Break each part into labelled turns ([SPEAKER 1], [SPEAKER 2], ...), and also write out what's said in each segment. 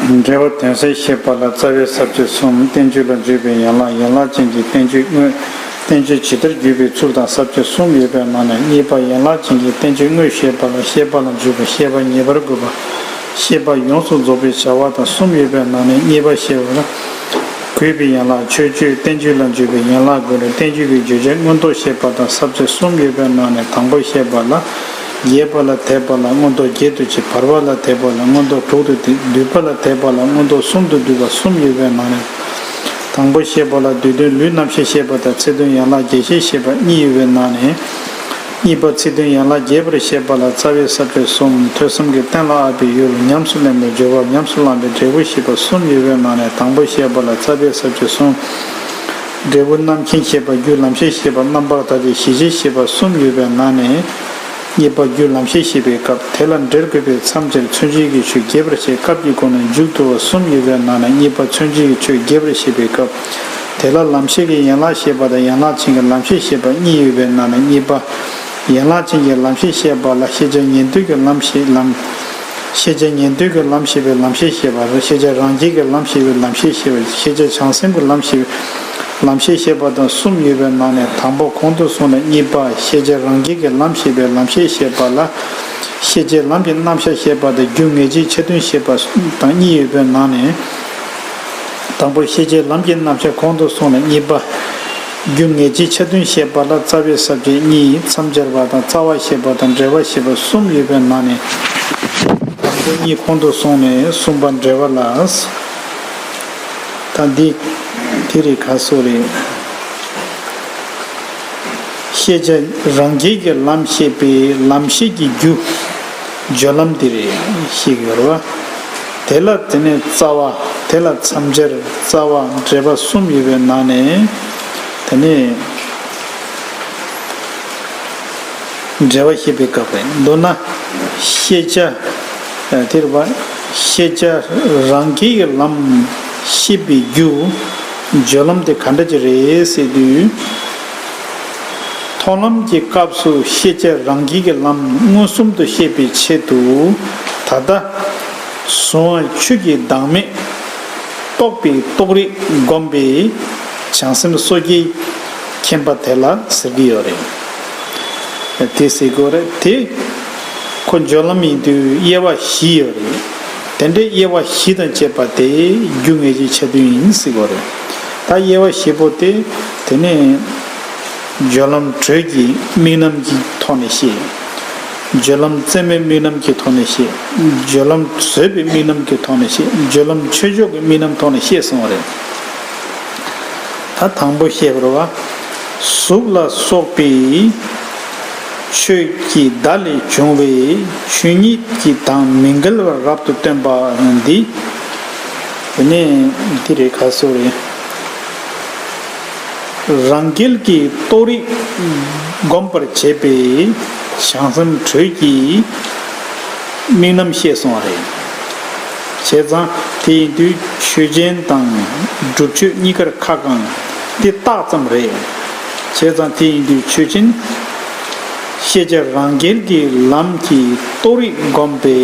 [SPEAKER 1] འགྲེལ་བ་དོན་གསལ་ཞེས་པ་ལ་རྩ་བའི་ཟབ་ཆོས་གསུམ་བསྟན་བཅོས་ལ་འཇུག་པའི་ཡན་ལག་ཡན་ལག་ཅན་གྱི་བསྟན་བཅོས་དངོས། བསྟན་བཅོས་ཇི་ལྟར་བརྒྱུད་པའི་ཚུལ་དང་ཟབ་ཆོས་གསུམ་ཡོད་པའི་ནང་ནས་གཉིས་པ་ཡན་ལག་ཅན་གྱི་བསྟན་བཅོས་དངོས་ཞེས་པ་ལ་ཤེས་པ་ལ་འཇུག་པའི་ཤེས་པ་ངེས་པར་དགོས་པ། ཤེས་པ་ཡོངས་སུ་རྫོགས་པའི་བྱ་བ་དང་གསུམ་ཡོད་པའི་ནང་ནས་གཉིས་པ་ཤེས་པ་ལ་གུས་པའི་ཡན་ལག་ཆོས་སྤྱོད་བསྟན་བཅོས་ལ་འཇུག་པའི་ཡན་ལག་དགོས་ལ་བསྟན་བཅོས་ཀྱི་བརྗོད་བྱ་མངོན་རྟོགས་ཤེས་པ་དང་ཟབ་ཆོས་གསུམ་ཡོད་པའི་ནང་ནས་དང་པོ་ཤེས་པ་ལ་རྒྱས་པ་ལ་དད་པ་ལ་མངོན་རྟོགས་བརྒྱད་དུ་བྱས་བར་པ་ལ་དད་པ་ལ་མངོན་རྟོགས་དྲུག་ཏུ་བསྡུས་སྡུད་པ་ལ་དད་པ་ལ་མངོན་རྟོགས་གསུམ་དུ་བསྡུས་པ་གསུམ་ཡོད་པའི་ནང་ནས། དང་པོ་ཤེས་པ་ལ་བསྡུས་དོན་ལུས་རྣམ་ཤེས་ཤེས་པ་དང་ཚིག་དོན་ཡན་ལག་བརྒྱད་ཤེས་ཤེས་པ་གཉིས་ཡོད་པའི་ནང་ནས། གཉིས་པ་ཚིག་དོན་ཡན་ལག་བརྒྱད་པར་ཤེས་པ་ལ་རྩ་བའི་ས་བཅུ་གསུམ་ཐོས་བསམ་གྱི་རྟེན་ལ་ཨ་པའི་ཡུལ་ལ་ཉམས་སུ་ལེན་པའི་སྦྱོར་བ་ཉམས་སུ་བླངས་པའི་འབྲས་བུ་ཤེས་པ་གསུམ་ཡོད་པའི་ནང་ནས་དང་པོ་ཤེས་པ་ལ་རྩ་བའི་ས་བཅུ་གསུམ། འབྲས་བུ་རྣམ་མཁྱེན་ཤེས་པ་རྒྱུ་ལམ་ཤེས་ཤེས་པ་རྣམ་པར་དག་སྟེ་གཞི་ཤེས་ཤེས་པ་གསུམ་ཡོད་པའི་ནང་ནས། གཉིས་པ་རྒྱུ་ལམ་ཤེས་ཤེས་པའི་སྐབས་དེ་ལ་འབྲེལ་དགོས་པས་མཚམས་འདིར་མཚོན་བྱེད་ཀྱི་ཆོས་རྒྱས་པར་བྱའི་སྐབས་ཀྱི་སྒོ་ནས་མཇུག་བསྡུ་བ་གསུམ་ཡོད་པའི་ནང་ནས་གཉིས་པ་མཚོན་བྱེད་ཀྱི་ཆོས་རྒྱས་པར་བྱེད་པའི་སྐབས་དེ་ལ་ལམ་ཤེས་ཀྱི་ཡན་ལག་ཤེས་པ་དང་ཡན་ལག་ཅན་གྱི་ལམ་ཤེས་ཤེས་པ་གཉིས་ཡོད་པའི་ནང་ནས་གཉིས་པ། ཡན་ལག་ཅན་གྱི་ལམ་ཤེས་ཤེས་པ་ལ་ཤེས་བྱ་ཉན་ཐོས་ཀྱི་ལམ་ཤེས་ལམ། ཤེས་བྱ་ཉན་ཐོས་ཀྱི་ལམ་ཤེས་པའི་ལམ་ཤེས་ཤེས་པ། ཤེས་བྱ་རང་རྒྱལ་གྱི་ལམ་ཤེས་པའི་ལམ་ཤེས་ཤེས་པ། ཤེས་བྱ་བྱང་སེམས་ཀྱི་ལམ་ཤེས་པའི་ལམ་ཤེས་ཤེས་པ་དང་གསུམ་ཡོད་པའི་ནང་ནས་དང་པོ་གོང་དུ་སོང་ནས་གཉིས་པ་ཤེས་བྱ་རང་རྒྱལ་གྱི་ལམ་ཤེས་པའི་ལམ་ཤེས་ཤེས་པ་ལ། ཤེས་བྱའི་ལམ་གྱི་རྣམ་གཞག་ཤེས་པ་དང་རྒྱུ་ངེས་འབྱེད་ཆ་མཐུན་ཤེས་པ་དང་གཉིས་ཡོད་པའི་ནང་ནས། དང་པོར་ཤེས་བྱའི་ལམ་གྱི་རྣམ་གཞག་གོང་དུ་སོང་ནས་གཉིས་པ། རྒྱུ་ངེས་ཀྱི་ཆ་མཐུན་ཞེས་པ་ལ་རྩ་བའི་ས་བཅད་གཉིས་མཚམས་སྦྱར་བ་དང་རྩ་བ་ཞེས་པ་དང་འབྲེལ་བ་ཞེས་པ་གསུམ་ཡོད་པའི་ནང་ནས། དང་པོ་གཉིས་ཁོང་དུ་སོང་ནས་གསུམ་པ་འབྲེལ་བ་ལ། ད་འདི། དེ་རིགས་ག་སོགས་རེད། ཤེས་བྱ་རང་རྒྱལ་གྱི་ལམ་ཤེས་པས་ལམ་ཤེས་ཀྱི་རྒྱུ། སྦྱོར་ལམ་འདི་རེ་ཞིག་ཡོད་རོ། དེ་ལ་དེ་ནས་རྩ་བ་དེ་ལ་མཚམས་སྦྱར་རྩ་བ་འབྲེལ་པ་གསུམ་ཡོད་པའི་ནང་ནས། དེ་ནས། འབྲེལ་བ་ཤེས་པའི་སྐབས་རེ་འདུག་ན། ཤེས་བྱ་དེར་བ། ཤེས་བྱ་རང་སྐྱེ་ཡི་ལམ་ཤེས་པའི་རྒྱུ། སྦྱོར་ལམ་དེ་ག་འདྲ་ཅི་རེད་ཟེར་དུས། མཐོང་ལམ་གྱི་སྐབས་སུ་ཤེས་བྱ་རང་སྐྱིད་ཀྱི་ལམ་མངོན་སུམ་དུ་ཤེས་པའི་ཆེད་དུ། ད་ལྟ། གཟུང་བ་ཆོས་ཀྱི་བདག་མེད། རྟོགས་པའི་རྟོགས་རིགས་བསྒོམས་པས། བྱང་སེམས་སོ་སྐྱེའི་མཁྱེན་པ་དེ་ལ་ཟེར་གྱི་ཡོད་རེད། དེ་སྲིད་གོ་རེ་དེ། ཁོ་འཇོག་ལམ་ཡིན་དུས་དབྱེ་བ་བཞི་ཡོད་རེད། དེ་འདྲའི་དབྱེ་བ་བཞི་དང་བཅས་པ་དེ་རྒྱུ་ངེས་ཀྱི་ཆ་མཐུན་ཡིན་སྲིད་གོ་རེ། ད་དབྱེ་བ་བཞི་པོ་དེ། དེ་ནས་སྦྱོར་ལམ་དྲོད་ཀྱི་དམིགས་རྣམ་གྱི་ཐོག་ནས་བཤད། སྦྱོར་ལམ་རྩེ་མོའི་དམིགས་རྣམ་གྱི་ཐོག་ནས་བཤད། སྦྱོར་ལམ་བཟོད་པའི་དམིགས་རྣམ་གྱི་ཐོག་ནས་བཤད། སྦྱོར་ལམ་ཆོས་མཆོག་གི་དམིགས་རྣམ་ཐོག་ནས་བཤད་སོང་བ་རེད། ད་དང་པོ་བཤད་པར་བ། གཟུགས་ལ་སོགས་པའི་ཆོས་ཀྱི་བརྡ་ལས་བྱུང་བའི་ཆོས་ཉིད་ཀྱི་དང་མི་འགལ་བར་རབ་ཏུ་སྟོན་པ་འདི། དེ་ནས་འདི་རེ་ཁ་གསོ་རེད། རང་རྒྱལ་གྱི་རྟོགས་རིགས་བསྒོམ་པར་བྱེད་པའི་བྱང་སེམས་དྲོད་ཀྱི་དམིགས་རྣམ་བཤད་སོང་བ་རེད། བྱས་ཙང་དེ་ཡིན་དུས་ཆོས་ཅན་དང་སྒྲུབ་མཆོད་གཉིས་ཀར་ཁ་བསྐང་འདི་རྟགས་ཙམ་རེད། བྱས་ཙང་དེ་ཡིན་དུས་ཆོས་ཅན། ཤེས་བྱ་རང་རྒྱལ་གྱི་ལམ་གྱི་རྟོགས་རིགས་བསྒོམ་པའི་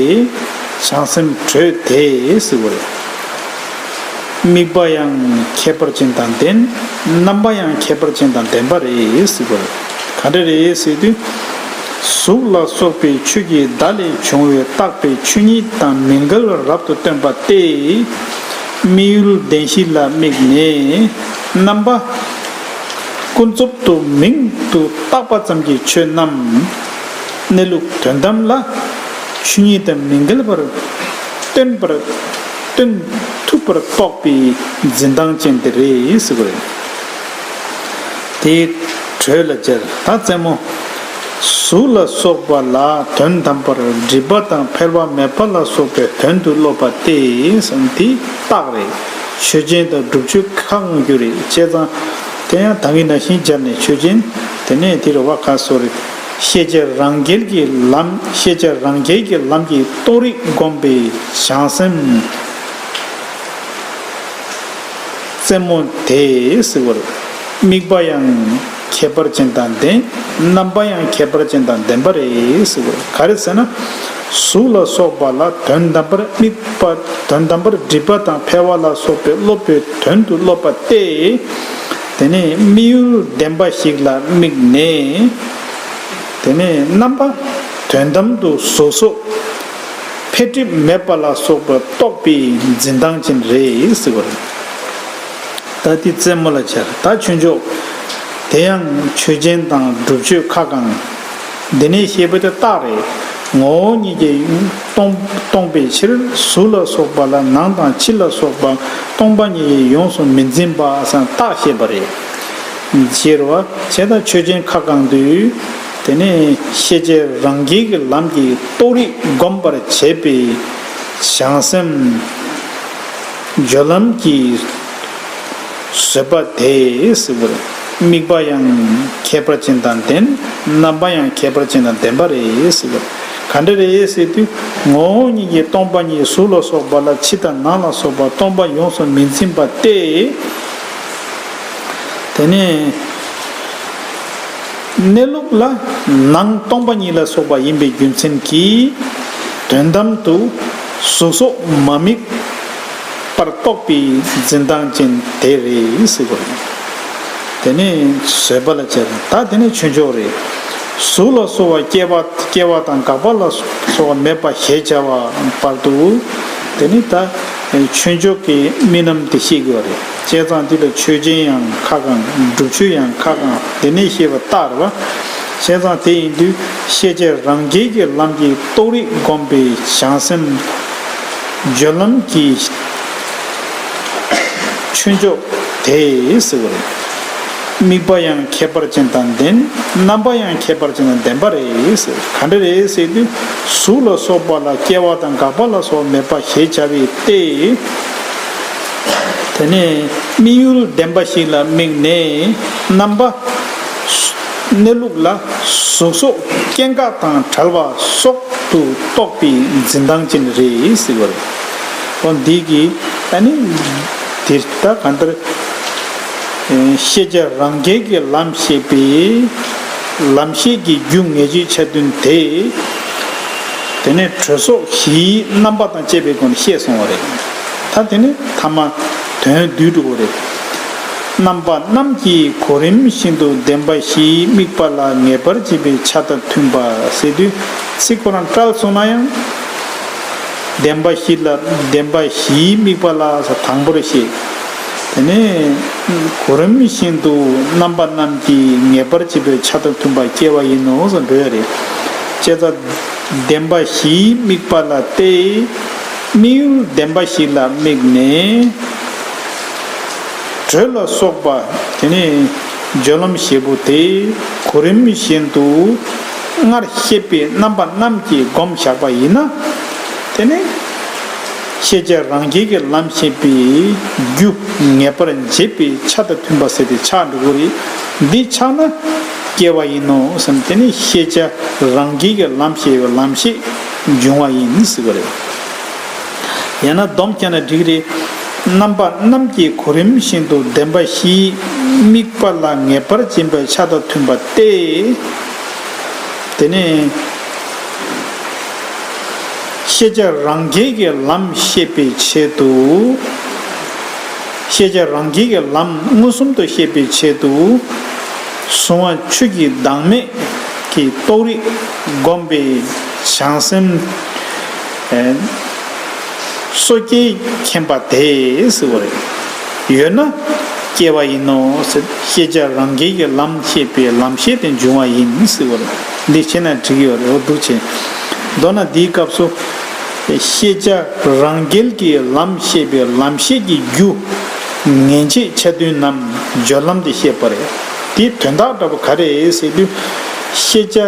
[SPEAKER 1] བྱང་སེམས་དྲོད་དེ་ཟེར་བ་རེད། དམིགས་པ་ཡང་ཁྱད་པར་ཅན་དང་ལྡན། རྣམ་པ་ཡང་ཁྱད་པར་ཅན་དང་ལྡན་པ་རེད། ག་འདྲ་རེད་ཟེར་དུས། གཟུགས་ལ་སོགས་པའི་ཆོས་ཀྱི་བརྡ་ལས་བྱུང་བའི་རྟག་པའི་ཆོས་ཉིད་དང་མི་འགལ་བར་རབ་ཏུ་སྟོན་པ་སྟེ། དམིགས་ཡུལ་བདེན་བཞི་ལ་དམིགས་ནས། རྣམ་པ། ཀུན་རྫོབ་ཏུ་མིང་དུ་བཏགས་པ་ཙམ་གྱི་ཆོས་རྣམས། གནས་ལུགས་དོན་དམ་ལ། ཆོས་ཉིད་དང་མི་འགལ་བར་སྟོན་པར། སྟོན་ཐུབ་པར་རྟོགས་པའི་འཛིན་སྟངས་ཅན་དེ་རེད་ཟེར་གི་རེད། དེ་གྲོས་ལ་མཇལ་ད་བཙན་མོ། གཟུགས་ལ་སོགས་པ་ལ་དོན་དམ་པར་སྒྲིབ་པ་དང་འཕེལ་བ་མེད་པ་ལ་སོགས་པའི་དོན་དུ་སློབ་པ་སྟེ་དེ་རྟགས་རེད། ཆོས་ཅན་དང་སྒྲུབ་ཆོས་ཁ་སྔོན་རྒྱུ་རེད་བྱས་ཙང། དེ་ཡང་ད་གིན་ན་ཤིང་སྦྱར་ནས་ཆོས་ཅན། དེ་ནས་དེ་རུ་བ་ཁ་གསོ་རེད། ཤེས་བྱ་རང་རྒྱལ་གྱི་ལམ་ཤེས་བྱ་རང་རྒྱལ་གྱི་ལམ་གྱི་རྟོགས་རིགས་བསྒོམས་པས་བྱང་སེམས་རྩེ་མོ་དེས་བསིལ་བར། དམིགས་པ་ཡང་ཁྱད་པར་ཅན་དང་ལྡན་རྣམ་པ་ཡང་ཁྱད་པར་ཅན་དང་ལྡན་པ་རེད་བསིལ་བར་ག་རེ་ཟེར་ན། གཟུགས་ལ་སོགས་པ་ལ་དོན་དམ་པར་དམིགས་པ་དོན་དམ་པར་སྒྲིབ་པ་དང་འཕེལ་བ་ལ་སོགས་པའི་སློབ་པའི་དོན་དུ་སློབ་པ་སྟེ། དེ་ནས་དམིགས་ཡུལ་བདེན་པ་ཞིག་ལ་དམིགས་ནས། དེ་ནས་རྣམ་པ་དོན་དམ་དུ་གཟུགས་སོགས་འཕེལ་འགྲིབ་མེད་པ་ལ་སོགས་པ་རྟོགས་པའི་འཛིན་སྟངས་ཅན་རེད་ཟེར་བ་རེད། ད་འདི་རྩེད་མོ་ལ་འཆར་ད་ཆོས་མཆོག་དེ་ཡང་ཆོས་ཅན་དང་སྒྲུབ་མཆོད་ཁ་བསྐང། འདི་ནི་ཤེས་པའི་རྟགས་རེད། ངོ་བོ་ཉིད་ཀྱིས་སྟོང་པའི་ཕྱིར་གཟུགས་ལ་སོགས་པ་ལ་ནང་དང་ཕྱི་ལ་སོགས་པ་སྟོང་པ་ཉིད་ཡིན་ཡོངས་སུ་མི་འཛིན་པ་རྟགས་བཤད་པ་རེད། ཞེས་རོ། བྱེད་དང་ཆོས་ཅན་ཁ་བསྐང་དུས། དེ་ནི་ཤེས་བྱའི་རང་རྒྱལ་གྱི་ལམ་གྱིས་རྟོགས་རིགས་བསྒོམ་པར་བྱེད་པའི་བྱང་སེམས། སྦྱོར་ལམ་གྱི། བཟོད་པ་དེས་དམིགས་པ་ཡང་ཁྱད་པར་ཅན་དང་ལྡན་རྣམ་པ་ཡང་ཁྱད་པར་ཅན་དང་ལྡན་པ་རེས་ག་འདྲ་རེས་དུས་ངོ་བོ་ཉིད་ཀྱིས་སྟོང་པ་ཉིད་གཟུགས་ལ་སོགས་པ་ལ་ཕྱི་དང་ནང་ལ་སོགས་པ་སྟོང་པ་ཡོངས་སུ་མི་འཛིན་པ་སྟེ། དེ་ནས་གནས་ལུགས་ལ་ནང་སྟོང་པ་ཉིད་ལ་སོགས་པ་ཡིན་པའི་རྒྱུ་མཚན་གྱིས་དོན་དམ་དུ་གཟུགས་སོགས་མ་དམིགས། པར་རྟོགས་པའི་འཛིན་སྟངས་ཅན་དེ་རེད་ཟེར་དགོས། དེ་ནི་བཟོད་པ་ལ་བྱས་དང་ད་དེ་ནི་ཆོས་མཆོག་རེད། གཟུགས་ལ་སོགས་བ་སྐྱེ་བ་སྐྱེ་བ་དང་འགག་པ་ལ་སོགས་བ་མེད་པ་ཞེས་བྱ་བ་པར་དུ་དེ་ནི་ད་ཆོས་མཆོག་གི་རྨི་ལམ་དེ་ཤེས་དགོས་པ་རེད་བྱས་ཙང་འདི་ལ་ཆོས་ཅན་ཡང་ཁ་གང་སྒྲུབ་ཆོས་ཡང་ཁ་གང་དེ་ནས་ཤེས་པ་ལྟར་བ་བྱས་ཙང་དེ་ཡིན་དུས་ཤེས་བྱའི་རང་རྒྱལ་གྱི་ལམ་གྱི་རྟོགས་རིགས་བསྒོམས་པའི་བྱང་སེམས། སྦྱོར་ལམ་གྱི་ཆོས་མཆོག་དེས། དམིགས་པ་ཡང་ཁྱད་པར་ཅན་དང་ལྡན། རྣམ་པ་ཡང་ཁྱད་པར་ཅན་དང་ལྡན་པ་རེད། ག་འདྲ་རེད་ཟེར་དུས་གཟུགས་ལ་སོགས་པ་ལ་སྐྱེ་བ་དང་འགག་པ་ལ་སོགས་མེད་པ་ཞེས་བྱ་བའི་ཏེ། དེ་ནས་དམིགས་ཡུལ་ལྡན་པ་ཞིག་ལ་དམིགས་ནས་རྣམ་པ། གནས་ལུགས་ལ་གཟུགས་སོགས་སྐྱེ་འགག་དང་བྲལ་བ་སོགས་དུ་རྟོགས་པའི་འཛིན་སྟངས་ཅན་རེད་ཟེར་བ་རེད། འོ་འདི་གི་ད་ནི་འདི་ལྟ་གང་ལྟར་ཤེས་བྱ་རང་རྒྱལ་གྱི་ལམ་ཤེས་པས་ལམ་ཤེས་ཀྱི་རྒྱུ་ངེས་བརྗོད་ཆ་མཐུན་དེ། དེ་ནས་དྲོད་སོགས་བཞིའི་རྣམ་པ་དང་བཅས་པའི་སྒོ་ནས་ཤེས་སོང་བ་རེད། ད་དེ་ནི་ཐ་མ་དོན་བསྡུས་འགྲུབ་བོ་རེད། རྣམ་པ་རྣམས་ཀྱིས་གོ་རིམ་བཞིན་དུ་བདེན་པ་བཞིའི་དམིགས་པ་ལ་ངེས་པར་འབྱེད་པའི་ཆ་དང་མཐུན་པ་ཟེར་དུས་ཚིག་གོ་རང་སྐྲག་སོང་ན་ཡང། བདེན་པ་བཞི་ལ་བདེན་པ་བཞིའི་དམིགས་པ་ལ་སོགས་དང་པོར་བཤད། དེ་ནས། གོ་རིམ་བཞིན་དུ་རྣམ་པ་རྣམས་ཀྱིས་ངེས་པར་འབྱེད་པའི་ཆ་དང་མཐུན་པ་སྐྱེ་བ་ཡིན་ནོ་ཞེས་འདོད་རེ་སྐྱེས། བདེན་པ་བཞིའི་དམིགས་པ་ལ་སྟེ། དམིགས་ཡུལ་བདེན་པ་བཞི་ལ་དམིགས་ནས། དྲོད་ལ་སོགས་པ། དེ་ནས་སྦྱོར་ལམ་བཞི་པོ་དེ་གོ་རིམ་བཞིན་དུ། སྔར་བཤད་པའི་རྣམ་པ་རྣམས་ཀྱིས་བསྒོམ་བཞག་པ་ཡིན་ན། དེ་ནས། ཤེས་བྱ་རང་རྒྱལ་གྱི་ལམ་ཤེས་པའི་རྒྱུ། ངེས་པར་འབྱེད་པའི་ཆ་དང་མཐུན་པར་ཟད་དེ་ཆགས་འགྲོ་བ། འདི་ཆགས་ན་སྐྱེ་བ་ཡིན་ནོ། དེ་ནས་ཤེས་བྱ་རང་རྒྱལ་གྱི་ལམ་ཤེས་པའི་ལམ་ཤེས་འབྱུང་བ་ཡིན་ཟེར་བ་རེད། ཡང་ན་སྡོམ་བསྐྱེད་ན་འགྲིག་རེད། རྣམ་པ་རྣམ་བསྐྱེད་གོ་རིམ་བཞིན་དུ་བདེན་པ་བཞིའི་དམིགས་པ་ལ་ངེས་པར་འབྱིན་པའི་ཆ་དང་མཐུན་པ་སྟེ། དེ་ནས། ཤེས་བྱ་རང་རྒྱལ་གྱི་ལམ་ཤེས་པའི་ཆེད་དུ། ཤེས་བྱ་རང་རྒྱལ་གྱི་ལམ་མངོན་སུམ་དུ་ཤེས་པའི་ཆེད་དུ། གཟུང་བ་ཆོས་ཀྱི་བདག་མེད་ཀྱི་རྟོགས་རིགས་བསྒོམ་པའི་བྱང་སེམས། སོ་སྐྱེའི་མཁྱེན་པ་དེས་བསྲེ་བ་རེ། ཡོད་ན་སྐྱེ་བ་ཡིན་ནོ། ཤེས་བྱ་རང་རྒྱལ་གྱི་ལམ་ཤེས་པས་ལམ་ཤེས་ཏེ་འབྱུང་བ་ཡིན་བསྲེ་བ་རེ། འདི་ཤེས་ན་འགྲིག་ཡོད་རེ་བ་འདུག་བྱས། མདོར་ན་འདིའི་སྐབས་སུ། ཤེས་བྱ་རང་རྒྱལ་གྱི་ལམ་ཤེས་པས་ལམ་ཤེས་ཀྱི་རྒྱུ། ངེས་འབྱེད་ཆ་མཐུན་ནམ་སྦྱོར་ལམ་དེ་བཤད་པ་རེད། དེའི་དོན་དག་འདྲ་བོ་ག་རེ་ཟེར་དུས། ཤེས་བྱ་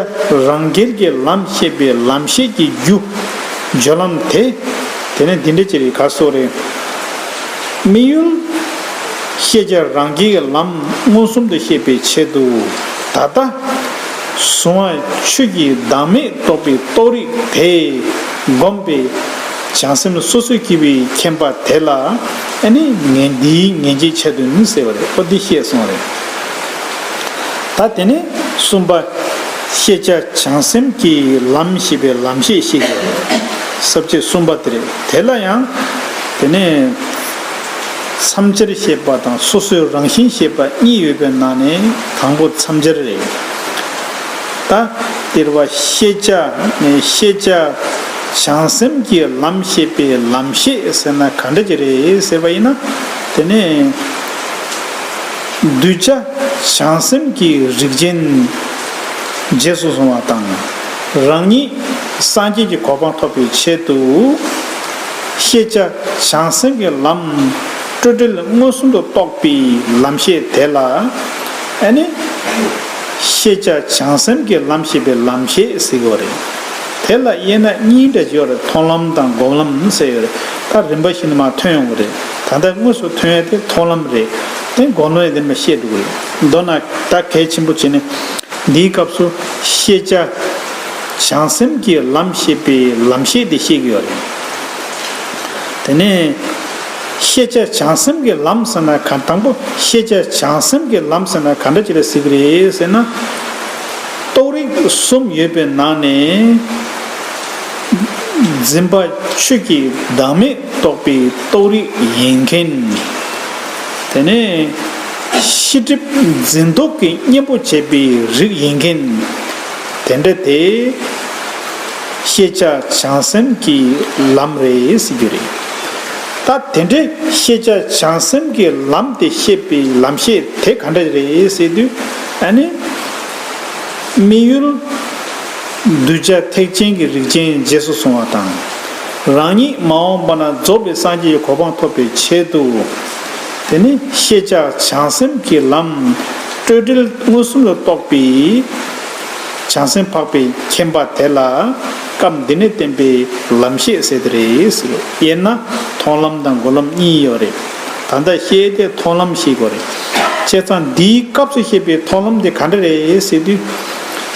[SPEAKER 1] རང་སྒེར་གྱི་ལམ་ཤེས་པའི་ལམ་ཤེས་ཀྱི་རྒྱུ། སྦྱོར་ལམ་དེ། དེ་ནི་འདི་འདྲ་ཅི་རེད་ག་སོགས་རེད། དམིགས་ཡུལ། ཤེས་བྱ་རང་སྒེར་གྱི་ལམ་མངོན་སུམ་དུ་ཤེས་པའི་ཆེད་དུ། ད་ལྟ། གཟུང་བ་ཆོས་ཀྱི་བདག་མེད་རྟོགས་པའི་རྟོགས་རིགས་དེ། བསྒོམས་པས། བྱང་སེམས་སོ་སོའི་སྐྱེས་བུའི་མཁྱེན་པ་དེ་ལ། ཨ་ནི། ངས་འདིའི་ངེས་འབྱེད་འཆད་དོན་ནི་ཟེར་བ་རེད་ཨོ་འདི་ཤེས་སོང་རེད། ད་དེ་ནས་གསུམ་པ། ཤེས་བྱ་བྱང་སེམས་ཀྱི་ལམ་ཞེས་པའི་ལམ་ཤེས་ཤིག་ཡོད་རེད། ཟབ་ཆོས་གསུམ་པ་དེ་རེད། དེ་ལ་ཡང། དེ་ནས། མཚམས་སྦྱར་ཞེས་པ་དང་སོ་སོའི་རང་བཞིན་ཞེས་པ་གཉིས་ཡོད་པའི་ནང་ནས་དང་པོ་མཚམས་སྦྱར་རེད། ད། དེར་བ་ཤེས་བྱ་ནས་ཤེས་བྱ་བྱང་སེམས་ཀྱི་ལམ་ཤེས་པའི་ལམ་ཤེས་ཟེར་ན་ག་འདྲ་ཅིག་རེད་ཟེར་བ་ཡིན་ན། དེ་ནས། གདུལ་བྱ་བྱང་སེམས་ཀྱི་རིགས་ཅན། རྗེས་སུ་བཟུང་བ་དང། རང་ཉིད་སངས་རྒྱས་ཀྱི་གོ་འཕང་ཐོབ་པའི་ཆེད་དུ། ཤེས་བྱ་བྱང་སེམས་ཀྱི་ལམ་སྤྲོས་བྲལ་མངོན་སུམ་དུ་རྟོགས་པའི་ལམ་ཤེས་དེ་ལ་ནི། ཤེས་བྱ་བྱང་སེམས་ཀྱི་ལམ་ཤེས་པའི་ལམ་ཞེས་ཟེར་གྱི་རེད། དེ་ལ་དབྱེ་ན་གཉིས་འདྲ་བྱེད་པར་མཐོང་ལམ་དང་སྒོམ་ལམ་ཟེར་ཡོད་རེད། ད་རིམ་པ་བཞིན་དུ་མ་ཐོན་ཡོང་གི་རེད། ད་ལྟ་དངོས་སུ་ཐོན་ཡ་དེ་མཐོང་ལམ་རེད་དེ་མགོ་ནོན་ཡ་དེ་མ་བཤད་འདུག་རེད་མདོར་ན་ད་གལ་ཆེན་པོ་བྱས་ནི། འདིའི་སྐབས་སུ་ཤེས་བྱ། བྱང་སེམས་ཀྱི་ལམ་ཤེས་པའི་ལམ་ཤེས་དེ་བཤད་གི་ཡོད་རེད། དེ་ནས། ཤེས་བྱ་བྱང་སེམས་ཀྱི་ལམ་ཟེར་ན་གང་དང་པོ་ཤེས་བྱ་བྱང་སེམས་ཀྱི་ལམ་ཟེར་ན་གང་འདྲ་བྱས་ལ་ཟེར་གི་རེད་ཟེར་ན། རྟོགས་རིགས་གསུམ་ཡོད་པའི་ནང་ནས། འཛིན་པ་ཆོས་ཀྱི་བདག་མེད། རྟོགས་པའི་རྟོགས་རིགས་ཡིན་མཁན། དེ་ནས་ཤེས་སྒྲིབ་འཛིན་རྟོག་གི་གཉེན་པོ་བྱེད་པའི་རིགས་ཡིན་མཁན། དེ་འདྲ་དེ། ཤེས་བྱ་བྱང་སེམས་ཀྱི་ལམ་རེད་ཟེར་རྒྱུ་རེད། ད་དེ་འདྲའི་ཤེས་བྱ་བྱང་སེམས་ཀྱི་ལམ་དེ་ཤེས་པའི་ལམ་ཤེས་དེ་ག་འདྲ་རེད་ཟེར་དུས། ཨ་ནི། དམིགས་ཡུལ། གདུལ་བྱ་ཐེག་ཆེན་གྱི་རིགས་ཅན་རྗེས་སུ་བཟུང་བ་དང། རང་ཉིད་མ་འོངས་པ་ན་རྫོགས་པའི་སངས་རྒྱས་ཀྱི་གོ་འཕང་ཐོབ་པའི་ཆེད་དུ། དེ་ནི་ཤེས་བྱ་བྱང་སེམས་ཀྱི་ལམ། སྤྲོས་བྲལ་མངོན་སུམ་ལ་རྟོགས་པའི། བྱང་སེམས་འཕགས་པའི་མཁྱེན་པ་དེ་ལ། སྐབས་འདི་ནས་བསྟན་པའི་ལམ་བཤད་ཟེར་དེ་རེད། དབྱེ་ན་མཐོང་ལམ་དང་སྒོམ་ལམ་གཉིས་ཡོད་རེད། ད་ལྟ་བཤད་དེ་མཐོང་ལམ་ཞིག་གོ་རེད། བྱས་ཙང་འདིའི་སྐབས་སུ་བཤད་པའི་མཐོང་ལམ་དེ་ག་འདྲ་རེད་ཟེར་དུས།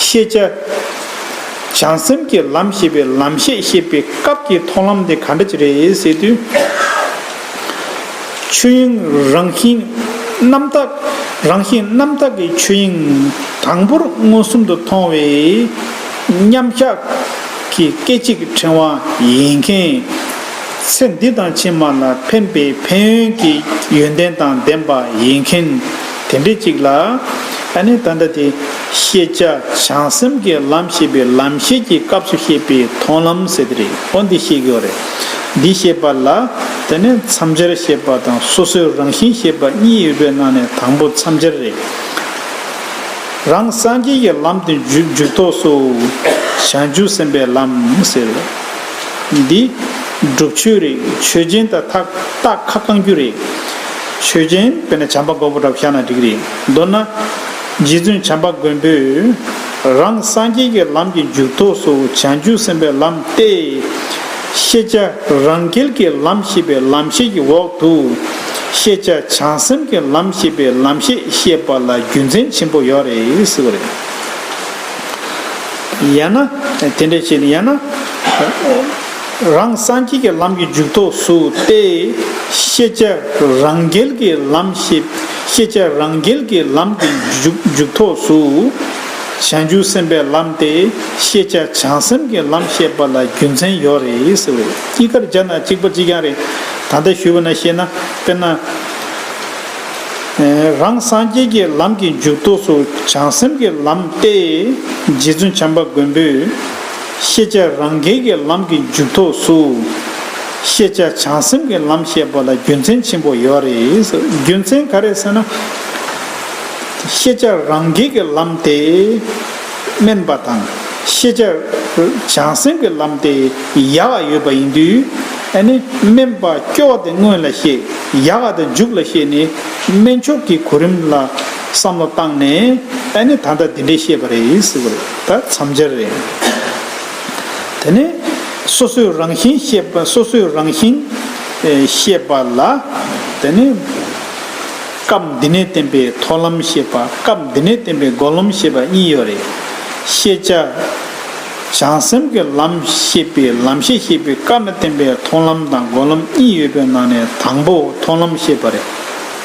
[SPEAKER 1] ཤེས་བྱ། བྱང་སེམས་ཀྱི་ལམ་ཞེས་པའི་ལམ་ཤེས་བཤད་པའི་སྐབས་ཀྱི་མཐོང་ལམ་དེ་ག་འདྲ་ཅིག་རེད་ཟེར་དུས། ཆོས་དབྱིངས་རང་བཞིན་རྣམ་དག་རང་བཞིན་རྣམ་དག་གི་ཆོས་དབྱིངས་དང་པོར་མངོན་སུམ་དུ་མཐོང་བའི་མཉམ་གཞག་གི་སྐད་ཅིག་ཕྲེང་བ་ཡིན་མཁན། ཚེ་འདི་དང་ཕྱི་མ་ལ་ཕན་པའི་ཕན་ཡོན་གྱི་ཡོན་ཏན་དང་ལྡན་པ་ཡིན་མཁན། དེ་འདྲའི་གཅིག་ལ། ཨ་ནི་ད་ལྟ་དེ། ཤེས་བྱ་བྱང་སེམས་ཀྱི་ལམ་ཤེས་པའི་ལམ་ཤེས་ཀྱི་སྐབས་སུ་བཤད་པའི་མཐོང་ལམ་ཟེར་དེ་རེད་ཨོ་འདི་ཤེས་ཀྱི་ཨོ་རེད། འདི་ཤེས་པ་ལ། དེ་ནས་མཚམས་སྦྱར་ཤེས་པ་དང་སོ་སོའི་རང་བཞིན་ཤེས་པ་གཉིས་ཡོད་པའི་ནང་ནས་དང་པོ་མཚམས་སྦྱར་རེད། རང་སངས་རྒྱས་ཀྱི་ལམ་དུ་འཇུག་འཇུག་ཐོག་སུ། བྱང་ཆུབ་སེམས་པའི་ལམ་ཟེར། འདི། སྒྲུབ་ཆོས་རེད་ཆོས་ཅན་དང་ཐག་རྟགས་ཁ་བསྐང་རྒྱུ་རེད། ཆོས་ཅན། དཔེར་ན་བྱམས་པ་མགོན་པོ་འདྲ་བོ་ཤར་ན་འགྲིག་རེད། མདོར་ན། རྗེ་བཙུན་བྱམས་པ་མགོན་པོས། རང་སངས་རྒྱས་ཀྱི་ལམ་གྱི་མཇུག་ཐོགས་སུ་བྱང་ཆུབ་སེམས་དཔའི་ལམ་སྟེ། ཤེས་བྱ་རང་རྒྱལ་གྱི་ལམ་ཞེས་པའི་ལམ་ཤེས་ཀྱི་འོག་ཏུ། ཤེས་བྱ་བྱང་སེམས་ཀྱི་ལམ་ཞེས་པའི་ལམ་ཤེས་བཤད་པ་ལ་རྒྱུ་མཚན་ཆེན་པོ་ཡོད་རེད་ཟེར་བ་རེད། ཡང་ན། དེ་འདྲ་བྱས་ནས་ཡང་ན། རང་སངས་རྒྱས་ཀྱི་ལམ་གྱི་མཇུག་ཐོགས་སུ་སྟེ། ཤེས་བྱ་རང་རྒྱལ་གྱི་ལམ་ཞེས་པས་ཤེས་བྱ་རང་རྒྱལ་གྱི་ལམ་གྱི་མཇུག་ཐོགས་སུ། བྱང་ཆུབ་སེམས་དཔའི་ལམ་སྟེ་ཤེས་བྱ་བྱང་སེམས་ཀྱི་ལམ་ཞེས་པ་ལ་རྒྱུ་མཚན་ཡོད་རེད་ཟེར་བས་སྐྱིད་ཀར་སྦྱར་ན་གཅིག་པ་གཅིག་རྐྱང་རེད། ད་ལྟ་ཞུས་པ་ན་ཤེས་ན་དཔེར་ན། རང་སངས་རྒྱས་ཀྱི་ལམ་གྱི་མཇུག་ཐོགས་སུ་བྱང་སེམས་ཀྱི་ལམ་སྟེ། རྗེ་བཙུན་བྱམས་པ་མགོན་པོས། ཤེས་བྱ་རང་རྒྱལ་གྱི་ལམ་གྱི་མཇུག་ཐོགས་སུ། ཤེས་བྱ་བྱང་སེམས་ཀྱི་ལམ་ཞེས་པ་ལ་རྒྱུ་མཚན་ཆེན་པོ་ཡོད་རེད། རྒྱུ་མཚན་ག་རེ་ཟེར་ན། ཤེས་བྱ་རང་རྒྱལ་གྱི་ལམ་དེ་དམན་པ་དང། ཤེས་བྱ་བྱང་སེམས་ཀྱི་ལམ་དེ་ཡག་ཡོད་པ་ཡིན་དུས། ཨ་ནི་དམན་པ་སྐྱོ་བ་དེ་སྔོན་ལ་ཤེས་ཡག་དེ་མཇུག་ལ་ཤེས་ནས་དམན་ཆོག་གི་གོ་རིམ་ལ་བསམ་བློ་བཏང་ནས་ཨ་ནི་ད་ལྟ་དེ་འདྲས་ཤེས་པ་རེད། ད་མཚམས་སྦྱར་རེད། དེ་ནས་སོ་སོའི་རང་བཞིན་ཤེས་པ་སོ་སོའི་རང་བཞིན་ཤེས་པ་ལ། དེ་ནས་སྐབས་འདི་ནས་བསྟན་པའི་མཐོང་ལམ་ཤེས་པ་སྐབས་འདི་ནས་བསྟན་པའི་འགོག་ལམ་ཤེས་པ་གཉིས་ཡོད་རེད། ཤེས་བྱ་བྱང་སེམས་ཀྱི་ལམ་ཤེས་པའི་ལམ་ཤེས་ཤེས་པའི་སྐབས་ནས་བསྟན་པའི་མཐོང་ལམ་དང་འགོག་ལམ་གཉིས་ཡོད་པའི་ནང་ནས་དང་པོ་མཐོང་ལམ་ཤེས་པ་རེད།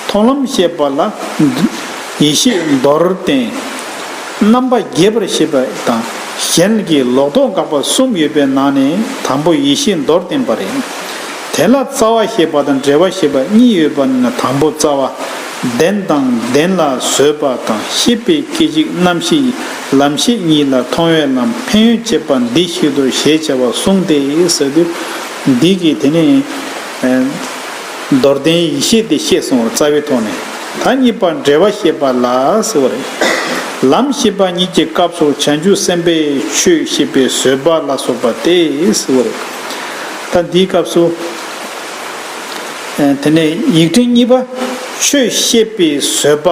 [SPEAKER 1] མཐོང་ལམ་ཤེས་པ་ལ་ཡེ་ཤེས་མདོར་བསྟན། རྣམ་པ་རྒྱས་པར་བཤད་པ་དང་གཞན་གྱི་ལོག་རྟོག་འགག་པ་གསུམ་ཡོད་པའི་ནང་ནས་དང་པོ་ཡེ་ཤེས་མདོར་བསྟན་པ་རེད། དེ་ལ་རྩ་བ་ཞེས་པ་དང་འབྲེལ་བ་ཞེས་པ་གཉིས་ཡོད་པ་ནི་དང་པོ་རྩ་བ། བདེན་དང་བདེན་ལ་བཟོད་པ་དང་ཤེས་པའི་སྐད་ཅིག་རྣམ་ཤེས་ལམ་ཤེས་གཉིས་ལ་མཐོང་བའི་ལམ་ཕན་ཡོན་བྱེད་པ་འདི་བཤད་དོ་ཞེས་བྱ་བ་གསུངས་ཏེ། འདི་གིས་དེ་ནས། མདོར་བསྟན་ཡེ་ཤེས་དེ་བཤད་སོང་བར་རྩ་བའི་ཐོག་ནས་ད་གཉིས་པ་འབྲེལ་བ་ཤེས་པ་ལ་ཟེར་བ་རེད། ལམ་ཤེས་པ་ཉིད་ཀྱི་སྐབས་སུ་བྱང་ཆུབ་སེམས་དཔའི་ཆོས་ཤེས་པའི་བཟོད་པ་ལ་སོགས་པ་དེ་ཟེར་བ་རེད། ད་འདིའི་སྐབས་སུ། དེ་ནས་ཡིག་ཕྲེང་གཉིས་པ། ཆོས་ཤེས་པའི་བཟོད་པ།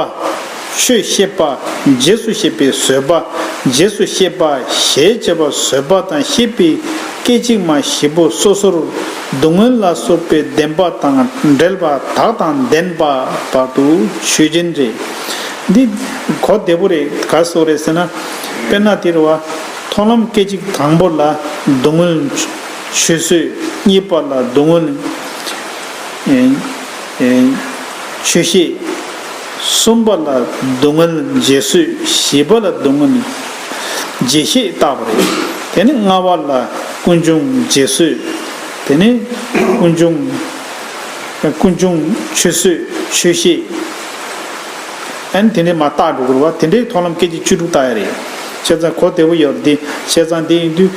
[SPEAKER 1] ཆོས་ཤེས་པ། རྗེས་སུ་ཤེས་པའི་བཟོད་པ། རྗེས་སུ་ཤེས་པ། ཞེས་བྱ་བ་བཟོད་པ་དང་ཤེས་པའི་སྐད་ཅིག་མ་བཞི་པོ་སོ་སོར། བསྡུ་སྔོན་ལ་སོགས་པའི་བདེན་པ་དང་འབྲེལ་པ་དག་དང་ལྡན་པ་བར་དུ་ཆོས་ཅན་རེད། འདི་གོ་བདེ་པོ་རེད་ག་སོགས་རེད་ཟེར་ན། དཔེར་ན་དེར་བ། མཐོང་ལམ་སྐད་ཅིག་དང་པོ་ལ་བསྡུ་སྔོན། ཆུད་ཟོས་གཉིས་པ་ལ་བསྡུ་སྔོན། ཆོས་ཤེས་གསུམ་པ་ལ་བསྡུ་སྔོན་རྗེས་སུ་ཞི་བ་ལ་བསྡུ་སྔོན། རྗེས་ཤེས་བཏགས་པ་རེད། དེ་ནི་ལྔ་བ་ལ་ཀུན་འབྱུང་རྗེས་བཟོད། དེ་ནི་ཀུན་འབྱུང། ཀུན་འབྱུང་ཆོས་བཟོད་ཆོས་ཤེས། ཨན། དེ་ནི་མ་བརྟགས་སྒྲོ་སྐུར་བ་དེ་འདྲའི་མཐོང་ལམ་སྐད་ཅིག་བཅུ་དྲུག་བཏགས་ཡ་རེད། བཤད་ཚན་གོ་བདེ་བོ་ཡོད་པ་འདི་བཤད་ཚན་དེ་ཡིན་དུས།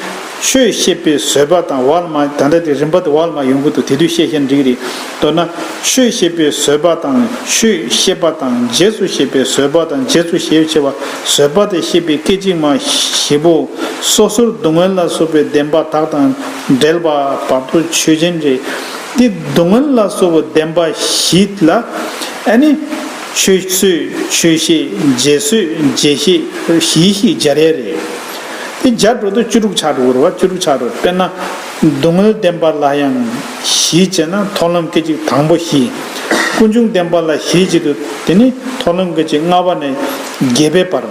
[SPEAKER 1] ཆོས་བཤད་པའི་བཟོད་པ་དང་བར་མ་ད་ལྟ་དེ་རིམ་པ་དེ་བར་མ་ཡོང་གི་འདུག་དེ་དུས་བཤད་བཤད་འགྲིག་རེད། མདོར་ན། ཆོས་བཤད་པའི་བཟོད་པ་དང་ཆོས་བཤད་པ་དང་རྗེས་སུ་བཤད་པའི་བཟོད་པ་དང་རྗེས་སུ་ཞེས་བྱ་བ་བཟོད་པ་དང་ཤེས་པའི་སྐད་ཅིག་མ་བཞི་པོ། སོ་སོར་སྡུག་བསྔལ་ལ་སོགས་པའི་བདེན་པ་དག་དང་འབྲེལ་པ་བར་དུ་ཆོས་ཅན། རེད་དེ། སྡུག་བསྔལ་ལ་སོགས་པའི་བདེན་པ་བཞི་ལ། ཨ་ནི། ཆོས་བཟོད་ཆོས་ཤེས་རྗེས་བཟོད་རྗེས་ཤེས་བཞིའི་ཤེས་སྦྱར་ཡས་རེད། དེ་སྦྱར་འགྲོ་དུས་བཅུ་དྲུག་ཆ་དྲུག་རུ་བ་བཅུ་དྲུག་ཆ་དྲུག་དཔེར་ན། བསྡུ་དངོས་བསྟན་པ་ལ་ཡང་བཞིས་བྱེད་ན་མཐོང་ལམ་སྐད་ཅིག་དང་པོ་བཞི། ཀུན་འབྱུང་བསྟན་པ་ལ་བཞིས་བྱེད་དུ་དེ་ནི་མཐོང་ལམ་སྐད་ཅིག་ལྔ་བ་ནས་བརྒྱད་པའི་བར།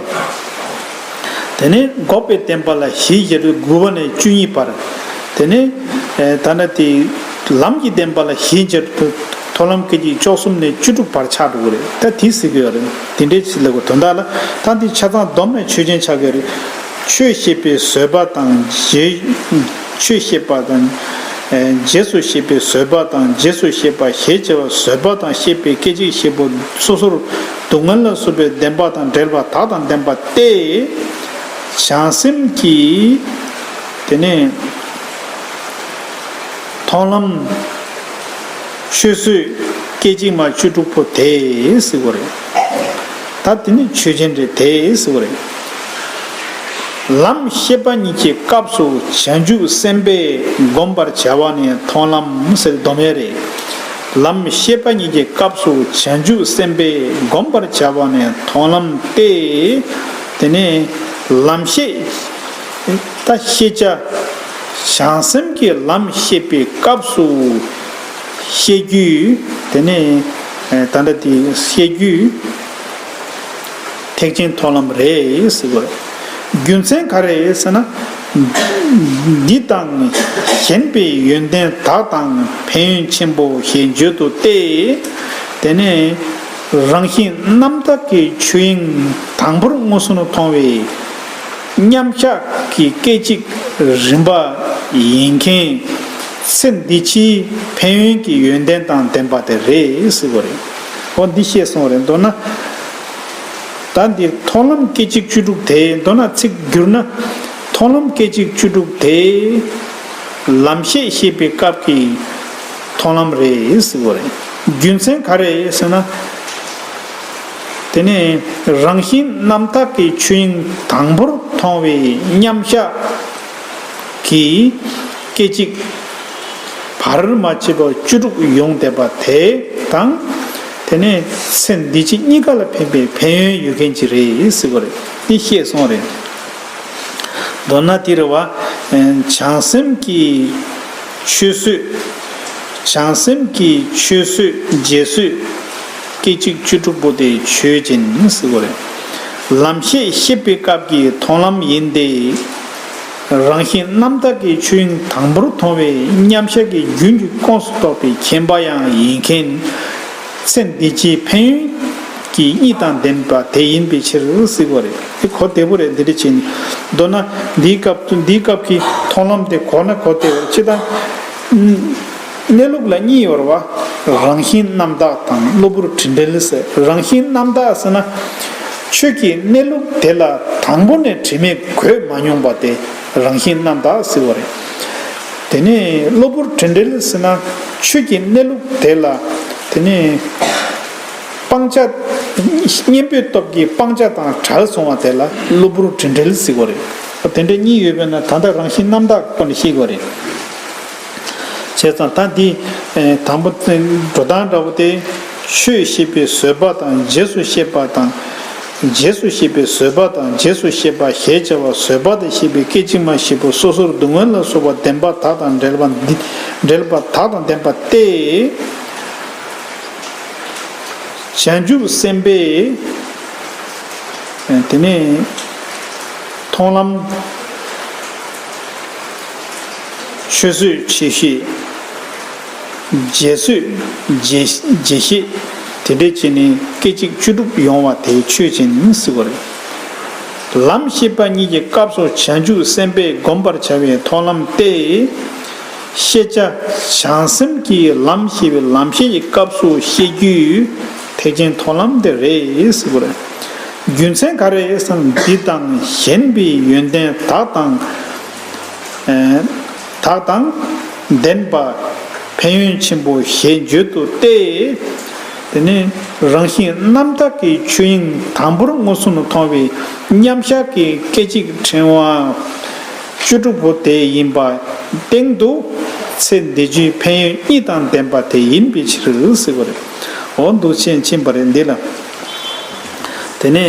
[SPEAKER 1] དེ་ནས་འགོག་པའི་བསྟན་པ་ལ་བཞིས་བྱེད་དུ་དགུ་བ་ནས་བཅུ་གཉིས་བར། དེ་ནས་ད་ནི་དེ་ལམ་གྱི་བསྟན་པ་ལ་བཞིས་བྱེད་དུ་མཐོང་ལམ་སྐད་ཅིག་བཅུ་གསུམ་ནས་བཅུ་དྲུག་བར་ཆ་དྲུག་རེད་ད་དེ་གཟིགས་དགོས་པ་རེད། དེ་འདྲའི་ཚིག་ལེགས་པ་དོན་དག་ལ། ད་འདི་ཆ་ཚང་སྡོམ་ནས་ཆོས་ཅན་ཆགས་ཀྱི་རེད། ཆོས་ཤེས་པའི་བཟོད་པ་དང། ཆོས་ཤེས་པ་དང། རྗེས་སུ་ཤེས་པའི་བཟོད་པ་དང་རྗེས་སུ་ཤེས་པ་ཞེས་བྱ་བ་བཟོད་པ་དང་ཤེས་པའི་སྐད་ཅིག་ཤེས་པོ་སོ་སོར་སྡུག་བསྔལ་ལ་སོགས་པའི་བདེན་པ་དང་བྲལ་བ་དག་དང་ལྡན་པ་སྟེ། བྱང་སེམས་ཀྱིས། དེ་ནས། མཐོང་ལམ། ཆོས་བཟོད། སྐད་ཅིག་མ་བཅུ་དྲུག་པོ་དེས་གཟིགས་པ་རེད། ད་དེ་ནི་ཆོས་ཅན་རེད་དེས་གཟིགས་པ་རེད། ལམ་ཤེས་པ་ཉིད་ཀྱི་སྐབས་སུ་བྱང་ཆུབ་སེམས་དཔས་བསྒོམ་པར་བྱ་བ་ནི་མཐོང་ལམ་སེལ་མདོ་མེད་རེད། ལམ་ཤེས་པ་ཉིད་ཀྱི་སྐབས་སུ་བྱང་ཆུབ་སེམས་དཔས་བསྒོམ་པར་བྱ་བ་ནི་མཐོང་ལམ་སྟེ། དེ་ནི་ལམ་ཤེས། ད་ཤེས་བྱ། བྱང་སེམས་ཀྱི་ལམ་ཤེས་པའི་སྐབས་སུ། བཤད་རྒྱུད། དེ་ནས་ད་འདྲ་དེ་བཤད་རྒྱུད། ཐེག་ཆེན་མཐོང་ལམ་རེད་ཟེར་དགོས། རྒྱུ་མཚན་ག་རེད་ཟེར་ན། འདི་དང་གཞན་པའི་ཡོན་ཏན་དག་དང་ཕན་ཡོན་ཆེན་པོ་ཞེས་བརྗོད་དོ་སྟེ། དེ་ནས་རང་བཞིན་རྣམ་དག་གི་ཆོས་དབྱིངས་དང་པོར་མངོན་སུམ་མཐོང་བས། མཉམ་གཞག་གི་སྐད་ཅིག་རིམ་པ་ཡིན་མཁན། སེམས་འདི་ཕྱིའི་ཕན་ཡོན་གྱི་ཡོན་ཏན་དང་ལྡན་པ་དེ་རེད་ཟེར་བ་རེད། འོ་འདི་ཤེས་སོང་རེད་མདོར་ན། ད་འདིར་མཐོང་ལམ་སྐད་ཅིག་བཅུ་དྲུག་དེ་མདོར་ན་ཚིག་བསྒྱུར་ན། མཐོང་ལམ་སྐད་ཅིག་བཅུ་དྲུག་དེ། ལམ་ཤེས་ཤེས་པའི་སྐབས་ཀྱི་མཐོང་ལམ་རེད་ཟེར་བ་རེད། རྒྱུ་མཚན་ག་རེད་ཟེར་ན། དེ་ནི་རང་བཞིན་རྣམ་དག་གི་ཆོས་དབྱིངས་དང་པོར་མཐོང་བའི་མཉམ་བཞག་གི། སྐད་ཅིག། བར་མ་ཆད་པ་བཅུ་དྲུག་ཡོངས་འདས་པ་དེ་དང། དེ་ནས་ཚེ་འདི་ཕྱི་གཉིས་ཀ་ལ་ཕན་པའི་ཕན་ཡོན་ཡོད་མཁན་གྱི་རེད་ཟེར་བ་རེད་འདི་ཤེས་སོང་རེད། མདོར་ན་འདིར་བ། བྱང་སེམས་ཀྱི་ཆོས་བཟོད། བྱང་སེམས་ཀྱི་ཆོས་བཟོད་རྗེས་བཟོད། སྐད་ཅིག་བཅུ་དྲུག་པོ་དེ་ཆོས་ཅན་ཟེར་བ་རེད། ལམ་ཤེས་ཤེས་པའི་སྐབས་ཀྱི་མཐོང་ལམ་ཡིན་ཏེ། རང་བཞིན་རྣམ་དག་གི་ཆོས་དབྱིངས་དང་པོར་མཐོང་བའི་མཉམ་གཞག་གི་རྒྱུན་གྱི་ཁོངས་སུ་གཏོགས་པའི་མཁྱེན་པ་ཡང་ཡིན་མཁྱེན། ཚེ་འདི་ཕྱིའི་ཕན་ཡོན་གྱི་གཉིས་དང་ལྡན་པ་དེ་ཡིན་པའི་ཕྱིར་གཟིགས་པ་རེད། འདི་གོ་བདེ་པོ་རེད་འདི་འདྲི་བྱེད་ནི། མདོར་ན། འདིའི་སྐབས་འདིའི་སྐབས་ཀྱི་མཐོང་ལམ་དེ་གོ་ན་གོ་བདེ་བས་ཅི་ལྟ། གནས་ལུགས་ལ་གཉིས་ཡོར་བ། རང་བཞིན་རྣམ་དག་དང་གློ་བུར་དྲི་འདྲེལ་ཟེར་རང་བཞིན་རྣམ་དག་ཟེར་ན། ཁྱོད་ཀྱིས་གནས་ལུགས་དེ་ལ་དང་པོ་ནས་དྲི་མས་གོས་མ་མྱོང་པ་དེ་རང་བཞིན་རྣམ་དག་ཟེར་བ་རེད། དེ་ནས་གློ་བུར་དྲི་འདྲེལ་ཟེར་ན། ཁྱོད་ཀྱིས་གནས་ལུགས་དེ་ལ། དེ་ནས། སྤང་བྱ། གཉེན་པོའི་སྟོབས་ཀྱིས་སྤང་བྱ་དང་བྲལ་སོང་བ་དེ་ལ་གློ་བུར་དྲི་འདྲེལ་ཟེར་བ་རེད། དེ་འདྲ་གཉིས་ཡོད་པས་ན་ད་ལྟ་རང་བཞིན་རྣམ་དག་ཁོ་ནས་ཤེས་དགོས་རེད། བྱས་ཙང་ད་འདི། དང་པོ། འགྲོ་སྟངས་འདྲ་བོ་སྟེ། ཆོས་ཤེས་པའི་བཟོད་པ་དང་རྗེས་སུ་ཤེས་པ་དང། རྗེས་སུ་ཤེས་པའི་བཟོད་པ་དང་རྗེས་སུ་ཤེས་པ་ཞེས་བྱ་བ་བཟོད་པ་དང་ཤེས་པའི་སྐད་ཅིག་མ་བཞི་པོ་སོ་སོར་སྡུག་བསྔལ་ལ་སོགས་པ་བདེན་པ་དག་དང་འབྲེལ་པ་འདི་འབྲེལ་པ་དག་དང་ལྡན་པ་སྟེ། བྱང་ཆུབ་སེམས་དཔའི། དེ་ནས། མཐོང་ལམ། ཆུད་ཟོས་ཆུད་གཤིས། རྗེས་ཟོས་རྗེས་གཤིས། དེ་འདྲའི་ཆེད་ནི་སྐད་ཅིག་བཅུ་དྲུག་ཡོང་བ་དེ་ཆོས་ཅན་མི་སྲིད་པ་རེད། ལམ་ཤེས་པ་གཉིས་ཀྱི་སྐབས་སུ་བྱང་ཆུབ་སེམས་དཔས་བསྒོམ་པར་བྱ་བའི་མཐོང་ལམ་སྟེ། ཤེས་བྱ་བྱང་སེམས་ཀྱིས་ལམ་ཤེས་པའི་ལམ་ཤེས་ཀྱི་སྐབས་སུ་ཤེས་རྒྱུའི་ཐེག་ཆེན་མཐོང་ལམ་དེ་རེད་སྲིད་པ་རེད། རྒྱུ་མཚན་ག་རེ་ཟང་འདི་དང་གཞན་པའི་ཡོན་ཏན་དག་དང། དག་དང་ལྡན་པ། ཕན་ཡོན་ཆེན་པོ་ཞེས་བརྗོད་དོ་སྟེ། དེ་ནི་རང་བཞིན་རྣམ་དག་གི་ཆོས་དབྱིངས་དང་པོར་མངོན་སུམ་དུ་མཐོང་བའི་མཉམ་གཞག་གི་སྐད་ཅིག་ཕྲེང་བ་བཅུ་དྲུག་པོ་དེ་ཡིན་པ་སྟེང་དུ། ཚེ་འདི་བཅུའི་ཕན་ཡོན་གཉིས་དང་ལྡན་པ་དེ་ཡིན་པའི་ཕྱིར་ཟེར་བ་རེད། འོ་འདུག་ཆེས་མཁྱེན་པ་རེད་འདི་ལ། དེ་ནས་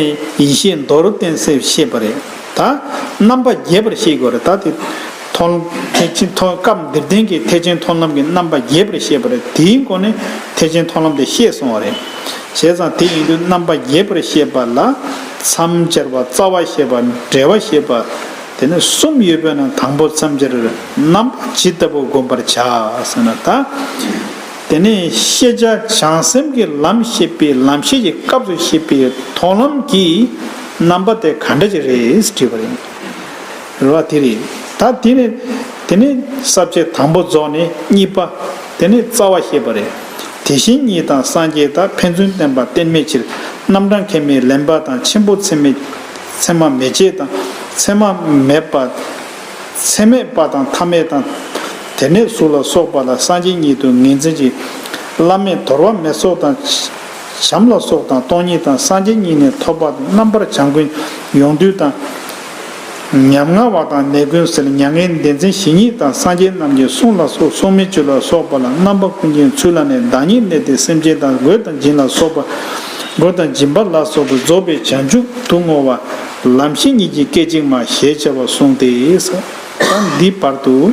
[SPEAKER 1] ཡེ་ཤེས་མདོར་བསྟན་གསལ་བཤད་པ་རེད། ད། རྣམ་པ་རྒྱས་པར་ཤེས་དགོས་རེད་ད་དེ། མཐོང། ཐེག་ཆེན་མཐོང་སྐབས་འདིར་བསྟན་གྱི་ཐེག་ཆེན་མཐོང་ལམ་གྱི་རྣམ་པ་རྒྱས་པར་བཤད་པ་རེད་དེའི་མགོ་ནས་ཐེག་ཆེན་མཐོང་ལམ་དེ་བཤད་སོང་བ་རེད། བྱས་ཙང་དེ་ཡིན་དུས་རྣམ་པ་རྒྱས་པར་བཤད་པ་ལ། མཚམས་སྦྱར་བ་རྩ་བ་ཤེས་པ་འབྲེལ་བ་ཤེས་པ། དེ་ནི་གསུམ་ཡོད་པས་ན་དང་པོ་མཚམས་སྦྱར་རྣམ་པ་ཇི་ལྟ་བུ་བསྒོམ་པར་བྱ་ཟེར་ན་ད། དེ་ནི་ཤེས་བྱ་བྱང་སེམས་ཀྱི་ལམ་ཤེས་པའི་ལམ་ཤེས་ཀྱི་སྐབས་སུ་ཤེས་པའི་མཐོང་ལམ་གྱིས། རྣམ་པ་དེ་ག་འདྲ་ཅིག་རེད་དྲིས་པ་རེད། རེ་བ་དེ་རེད། ད་དེ་ནི། དེ་ནི། ཟབ་བྱེད་དང་པོ་རྫོགས་ནི་གཉིས་པ། དེ་ནི་རྩ་བ་ཤེས་པ་རེད། དེ་བཞིན་ཉིད་དང་སངས་རྒྱས་དག་ཕན་ཚུན་བསྟན་པ་གཏན་མེད་ཕྱིར། རྣམ་གྲངས་ཁས་མི་ལེན་པ་དང་ཆེན་པོ་ཚད་མེད། ཚད་མ་མེད་ཅེས་དང། ཚད་མ་མེད་པ། ཚད་མེད་པ་དང་ཐ་མལ་དང། དེ་ནས་གཟུགས་ལ་སོགས་པ་ལ་སངས་རྒྱས་ཉིད་དུ་ངེས་འཛིན་ཅིང། བླ་མེད་དོར་བ་མེད་སོགས་དང། བྱམས་ལ་སོགས་དང་སྟོང་ཉིད་དང་སངས་རྒྱས་ཉིད་ནས་ཐོབ་པ་དང་རྣམ་པར་བྱང་ཀུན་ཡོངས་འདུས་དང། ཉམ་ང་བ་དང་ནད་ཀུན་སེལ་མྱ་ངན་འདས་མཚན་ཞི་ཉིད་དང་སངས་རྒྱས་རྣམས་ཀྱི་གསུང་ལ་སོགས་སྲུང་མའི་བཅུད་ལ་སོགས་པ་ལ་རྣམ་པ་ཀུན་གྱི་ཚུལ་ལ་ནས་བདག་ཉིད་གནས་ཏེ་སེམས་ཅན་དང་གོས་དང་སྦྱིན་ལ་སོགས་པ། གོས་དང་སྦྱིན་པ་ལ་སོགས་པའི་རྫོགས་པའི་བྱང་ཆུབ་ཏུ་བསྔོ་བ། ལམ་ཤེས་ཉིད་ཀྱིས་སྐད་ཅིག་མ་ཞེས་བྱ་བ་གསུངས་ཏེ། ས་འདིའི་བར་དུ།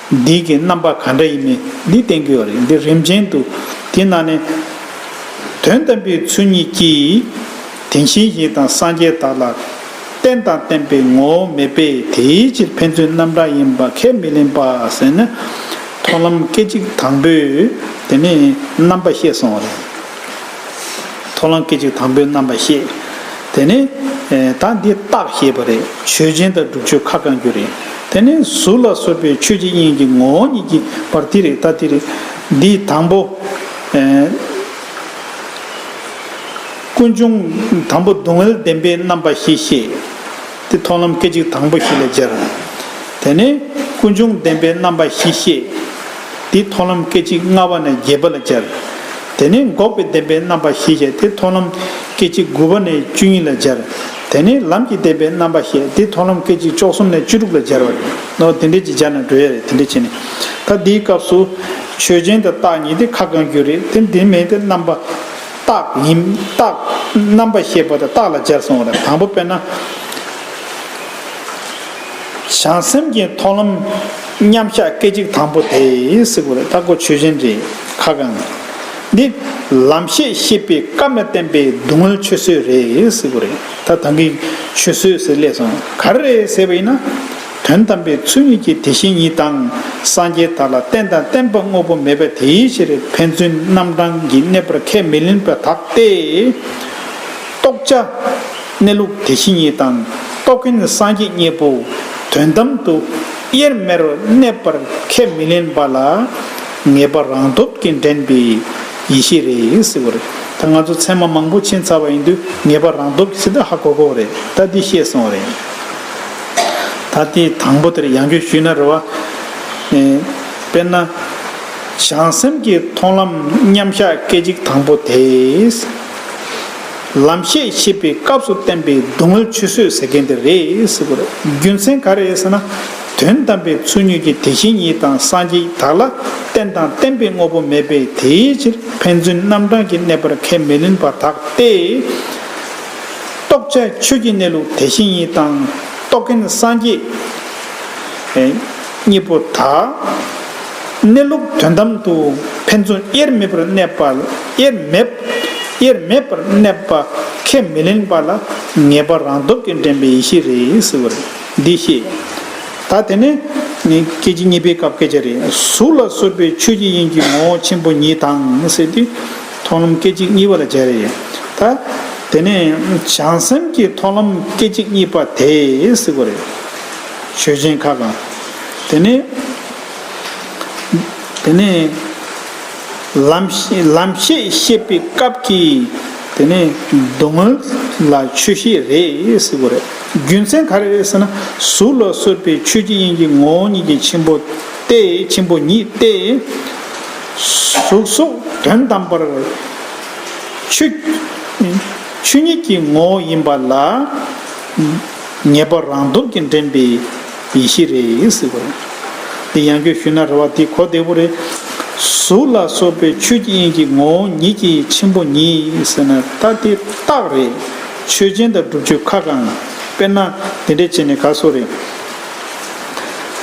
[SPEAKER 1] འདི་གི་རྣམ་པ་ག་འདྲ་ཡིན་མིན་འདི་བསྟན་དགོས་བ་རེད་འདི་རིམ་ཅན་དུ། དེ་ན་ནི། དོན་དམ་པའི་ཚུལ་ཉིད་ཀྱིས། དེང་ཤེས་བཞིན་དང་སངས་རྒྱས་དག་ལ། རྟེན་དང་བརྟེན་པའི་ངོ་བོ་མེད་པས་དེའི་ཕྱིར་ཕན་ཚུན་རྣམ་གྲངས་ཡིན་པ་ཁས་མི་ལེན་པ་ཟེར་ན། མཐོང་ལམ་སྐད་ཅིག་དང་པོས་དེ་ནི་རྣམ་པ་བཤད་སོང་བ་རེད། མཐོ་རླངས་སྐད་ཅིག་དང་པོའི་རྣམ་པར་ཤེས། དེ་ནས། ད་འདི་རྟག་ཞེས་པ་རེད། ཆོས་ཅན་དང་སྒྲུབ་ཆོས་ཁ་བསྐང་རྒྱུ་རེད། དེ་ནས་གཟུགས་ལ་སོགས་པའི་ཆོས་ཀྱི་དབྱིངས་ཀྱི་ངོ་བོ་ཉིད་ཀྱི་བར་དེ་རེད་ད་དེ་རེད། འདིས་དང་པོ། ཀུན་འབྱུང་དང་པོ་སྡུག་བསྔལ་བདེན་པའི་རྣམ་པར་ཤེས་ཤེས། དེ་མཐོང་ལམ་སྐད་ཅིག་དང་པོ་བཞི་ལས་སྦྱར། དེ་ནས་ཀུན་འབྱུང་བདེན་པའི་རྣམ་པ་བཞི་བཤད། དེ་མཐོང་ལམ་སྐད་ཅིག་ལྔ་བ་ནས་བརྒྱད་པ་ལ་སྦྱར། དེ་ནས་འགོག་པའི་བདེན་པའི་རྣམ་པ་བཞི་བཤད་དེ་མཐོང་ལམ་སྐད་ཅིག་དགུ་བ་ནས་བཅུ་གཉིས་ལ་སྦྱར། དེ་ནས་ལམ་གྱི་བདེན་པའི་རྣམ་པ་བཤད་དེ་མཐོང་ལམ་སྐད་ཅིག་བཅུ་གསུམ་ནས་བཅུ་དྲུག་ལ་སྦྱར་བ་རེད། ནོ། དེ་འདྲའི་ཅིག་སྦྱར་ན་འགྲོ་ཡ་རེད་དེ་འདྲའི་བྱས་ནས། ད་འདིའི་སྐབས་སུ། ཆོས་ཅན་དང་རྟགས་ཉིད་དེ་ཁ་བསྐང་རྒྱུ་རེད་དེ་འདི་མེད་དེ་རྣམ་པ། རྟགས་ཡིན། རྟགས། རྣམ་པར་ཤེས་པ་དང་རྟགས་ལ་སྦྱར་སོང་བ་དང་དང་པོ་དཔེར་ན། བྱང་སེམས་ཀྱི་མཐོང་ལམ། མཉམ་གཞག་སྐད་ཅིག་དང་པོ་དེ། སྲིད་པ་ལ་བརྟག་གོ་ཆོས་ཅན་རེ་ཁ་གང། འདི། ལམ་ཤེས་ཤེས་པའི་སྐབས་ན་བསྟན་པའི་སྡུག་བསྔལ་ཆོས་བཟོད་རེ་སྲིད་པ་རེད་ད་དང་གི། ཆོས་བཟོད་ཟེར་སླད་སོང་ག་རེ་རེད་ཟེར་བ་ཡིན་ན། དོན་དམ་པའི་ཚུལ་ཉིད་ཀྱི་དེ་བཞིན་ཉིད་དང། སངས་རྒྱས་དག་ལ་རྟེན་དང་བརྟེན་པ་དངོས་པོ་མེད་པའི་དེའི་ཕྱིར་ཕན་ཚུན་རྣམ་གྲངས་ཀྱིས་གནས་པར་ཁས་མི་ལེན་པ་དག་སྟེ། རྟོགས་བྱ། གནས་ལུགས་དེ་བཞིན་ཉིད་དང། རྟོགས་མཁན་སངས་རྒྱས་གཉིས་པོ། དོན་དམ་དུ། དབྱེར་མེད་རུ་གནས་པར་ཁས་མི་ལེན་པ་ལ། ངེས་པ་རང་སྟོབས་ཀྱིས་འདྲེན་པའི་ཡེ་ཤེས་རེད་ཟེར། ད་ང་ཚོ་ཚད་མ་མང་པོ་ཕྱིན་ཚར་བ་ཡིན་དུས་ངེས་པ་རང་སྟོབས་ཀྱིས་ཟེར་ན་ཧ་གོ་གོ་རེད་ད་འདི་ཤེས་སོང་རེད། ད་ལྟའི་དང་པོ་དེར་ཡང་རྒྱུད་ཞུས་ན་རེ་བ། དཔེར་ན། བྱང་སེམས་ཀྱི་མཐོང་ལམ་མཉམ་གཞག་སྐད་ཅིག་དང་པོ་དེས། ལམ་ཤེས་ཤེས་པའི་སྐབས་སུ་བསྟན་པའི་སྡུག་བསྔལ་ཆུད་ཟོས་ཟེར་མཁན་དེ་རེད་ཟེར་གོ། རྒྱུ་མཚན་ག་རེ་ཟེར་ན། དོན་དམ་པའི་ཚུལ་ཉིད་ཀྱི་དེ་བཞིན་ཉིད་དང་སངས་རྒྱས་དག་ལ་རྟེན་དང་བརྟེན་པའི་དངོས་པོ་མེད་པས་དེའི་ཕྱིར་ཕན་ཚུན་རྣམ་གྲངས་ཀྱི་གནས་པར་ཁས་མི་ལེན་པ་དག་སྟེ། རྟོགས་བྱ་ཆོས་ཀྱི་གནས་ལུགས་དེ་བཞིན་ཉིད་དང། རྟོགས་མཁན་སངས་རྒྱས་གཉིས་པོ་དག། གནས་ལུགས་དོན་དམ་དུ་ཕན་ཚུན་དབྱེར་མེད་པར་གནས་པ་ལ་དབྱེར་མེད་དབྱེར་མེད་པར་གནས་པ་ཁས་མི་ལེན་པ་ལ་ངེས་པ་རང་སྟོབས་ཀྱིས་འདྲེན་པའི་ཡེ་ཤེས་རེད་ཟེར་བ་རེད། འདི་ཤེས་ད་དེ་ནི་སྐད་ཅིག་གཉིས་པའི་སྐབས་སྐད་ཆ་རེད། གཟུགས་ལ་སོགས་པའི་ཆོས་ཀྱི་དབྱིངས་ཀྱི་ངོ་བོ་ཆེན་པོ་ཉིད་དང་ཟེར་ཏེ། མཐོང་ལམ་སྐད་ཅིག་གཉིས་པ་ལ་སྦྱར་ཡོད་ད། དེ་ནས་བྱང་སེམས་ཀྱི་མཐོང་ལམ་སྐད་ཅིག་གཉིས་པ་དེས་གཟིགས་པ་རེད། ཆོས་ཅན་ཁ་གང། དེ་ནས། དེ་ནས། ལམ། ལམ་ཤེས་བཤད་པའི་སྐབས་ཀྱི། དེ་ནས་སྡུག་བསྔལ་ལ་ཆོས་ཤེས་རེད་གཟིགས་པ་རེད། རྒྱུ་མཚན་ག་རེ་རེད་ཟེར་ན། གཟུགས་ལ་སོགས་པའི་ཆོས་ཀྱི་དབྱིངས་ཀྱི་ངོ་བོ་ཉིད་ཀྱི་ཆེན་པོ་སྟེ། ཆེན་པོ་ཉིད་སྟེ། གཟུགས་སོགས་དོན་དམ་པར་ཆོས་ཉིད་ཀྱི་ངོ་བོ་ཡིན་པ་ལ། ངེས་པར་རང་སྟོབས་ཀྱིས་འདྲེན་པའི་ཡེ་ཤེས་རེད། འདི་ཡང་རྒྱུད་ཞུས་ན་རེ་བ་དེ་གོ་བདེ་བོ་རེད། གཟུགས་ལ་སོགས་པའི་ཆོས་ཀྱི་དབྱིངས་ཀྱི་ངོ་བོ་ཉིད་ཀྱི་ཆེན་པོ་ཉིད་ཟེར་ན་ད་དེ་རྟགས་རེད། ཆོས་ཅན་དང་སྒྲུབ་ཆོས་ཁ་གང། དཔེར་ན་འདི་འདྲས་བྱས་ནས་ག་སོ་རེད།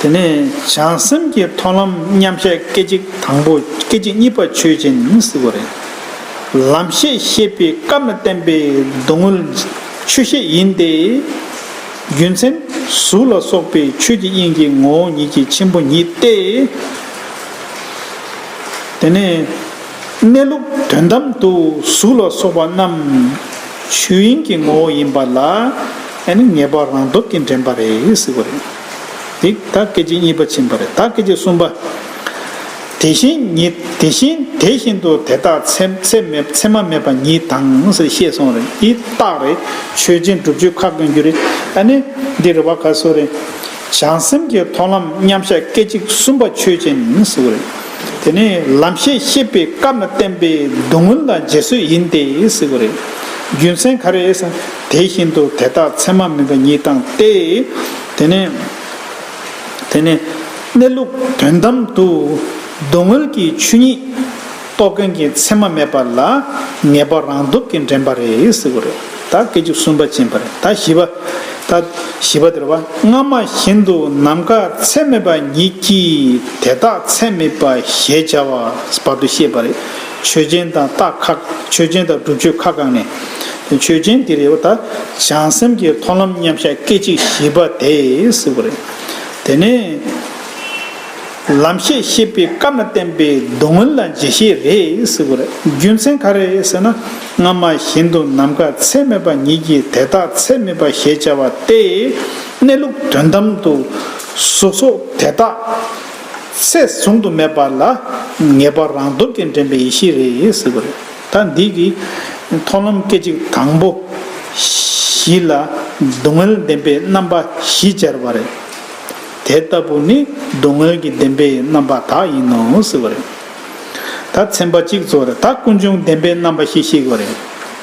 [SPEAKER 1] དེ་ནས་བྱང་སེམས་ཀྱི་མཐོང་ལམ་མཉམ་བཞག་སྐད་ཅིག་དང་པོ་སྐད་ཅིག་གཉིས་པ་ཆོས་ཅན་སྲིད་པ་རེད། ལམ་ཤེས་ཤེས་པའི་སྐབས་ན་བསྟན་པའི་སྡུག་བསྔལ་ཆོས་ཤེས་ཡིན་ཏེ། རྒྱུ་མཚན་གཟུགས་ལ་སོགས་པའི་ཆོས་ཀྱི་དབྱིངས་ཀྱི་ངོ་བོ་ཉིད་ཀྱི་ཆེན་པོ་ཉིད་དེ། དེ་ནས་གནས་ལུགས་དོན་དམ་དུ་གཟུགས་ལ་སོགས་པ་རྣམས་ཆོས་དབྱིངས་ཀྱི་ངོ་བོ་ཡིན་པ་ལ། ཨེ་ནི་ངེས་པར་རང་སྟོབས་ཀྱིས་འདྲེན་པ་རེད་ཟེར་བ་རེད། དེ་ད་སྐད་ཅིག་གཉིས་པ་ཕྱིན་པ་རེད་ད་སྐད་ཅིག་གསུམ་པ། དེ་བཞིན་ཉིད་དེ་བཞིན་དེ་བཞིན་དུ་དེ་དག་ཚད་མ་མེད་པ་ཉིད་དང་ཟེར་ཤེས་སོང་རེད་འདི་རྟགས་རེད་ཆོས་ཅན་སྒྲུབ་ཆོས་ཁ་དགོན་རྒྱུ་རེད་ཨེ་ནི་འདི་རེ་བ་ག་སོ་རེད། བྱང་སེམས་ཀྱི་མཐོང་ལམ་མཉམ་གཞག་སྐད་ཅིག་གསུམ་པ་ཆོས་ཅན་ཟེར་བ་རེད། དེ་ནི་ལམ་ཤེས་ཤེས་པའི་སྐབས་ན་བསྟན་པའི་བསྡུ་སྔོན་དང་རྗེས་བཟོད་ཡིན་ཏེ་ཟེར་བ་རེད། རྒྱུ་མཚན་ག་རེད་ཟེར་ན། དེ་བཞིན་དུ་དེ་དག་མཚན་མ་མིན་པ་ཉིད་དང་སྟེ། དེ་ནས། དེ་ནས། གནས་ལུགས་དོན་དམ་དུ། སྡུག་བསྔལ་གྱི་ཆོས་ཉིད། རྟོགས་མཁན་གྱི་མཚན་མ་མེད་པ་ལ། ངེས་པ་རང་སྟོབས་ཀྱིས་འདྲེན་པ་རེད་ཟེར་བ་རེད། ད་སྐད་ཅིག་གསུམ་པ་ཅན་པ་རེད། ད་བཞི་པ། ད་བཞི་པ་དེར་བ། སྔ་མ་བཞིན་དུ་ནམ་མཁའ་མཚན་མེད་པ་ཉིད་ཀྱིས་དེ་དག་མཚན་མེད་པ་ཞེས་བྱ་བར་བར་དུ་ཤེས་པ་རེད། ཆོས་ཅན་དང་རྟགས་ཁ། ཆོས་ཅན་དང་སྒྲུབ་ཆོས་ཁ་བསྐངས་ནས། ཆོས་ཅན་འདིར་ཡོད་པ་དག་བྱང་སེམས་ཀྱི་མཐོང་ལམ་མཉམ་གཞག་སྐད་ཅིག་བཞི་པ་དེས་བསྲེགས་པ་རེད། དེ་ནས། ལམ་ཤེས་བཤད་པའི་སྐབས་ན་བསྟན་པའི་སྡུག་བསྔལ་ལ་འཇལ་བྱེད་རེད་བསྲེགས་པ་རེད། རྒྱུ་མཚན་ག་རེ་ཟེར་ན། སྔ་མ་བཞིན་དུ་ནམ་མཁའ་ཚད་མེད་པ་ཉིད་ཀྱིས་དེ་དག་ཚད་མེད་པ་ཞེས་བྱ་བ་སྟེ། གནས་ལུགས་དོན་དམ་དུ་གཟུགས་སོགས་དེ་དག། སྲས་བཟུང་དུ་མེད་པ་ལ་ངེས་པར་རང་སྟོབས་ཀྱིས་འདྲེན་པའི་ཡེ་ཤེས་རེད་ཟེར་བ་རེད། ད་འདི་གི་མཐོང་ལམ་སྐད་ཅིག་དང་པོ་བཞི་ལ་སྡུག་བསྔལ་བདེན་པའི་རྣམ་པ་བཞི་སྦྱར་བ་རེད། དེ་ལྟ་བུ་ནི་སྡུག་བསྔལ་གྱི་བདེན་པའི་རྣམ་པ་དག་ཡིན་ནོ་ཟེར་བ་རེད། ད་ཚན་པ་གཅིག་ཚོར་ད་ཀུན་འབྱུང་བདེན་པའི་རྣམ་པ་བཞི་བཤིག་བ་རེད།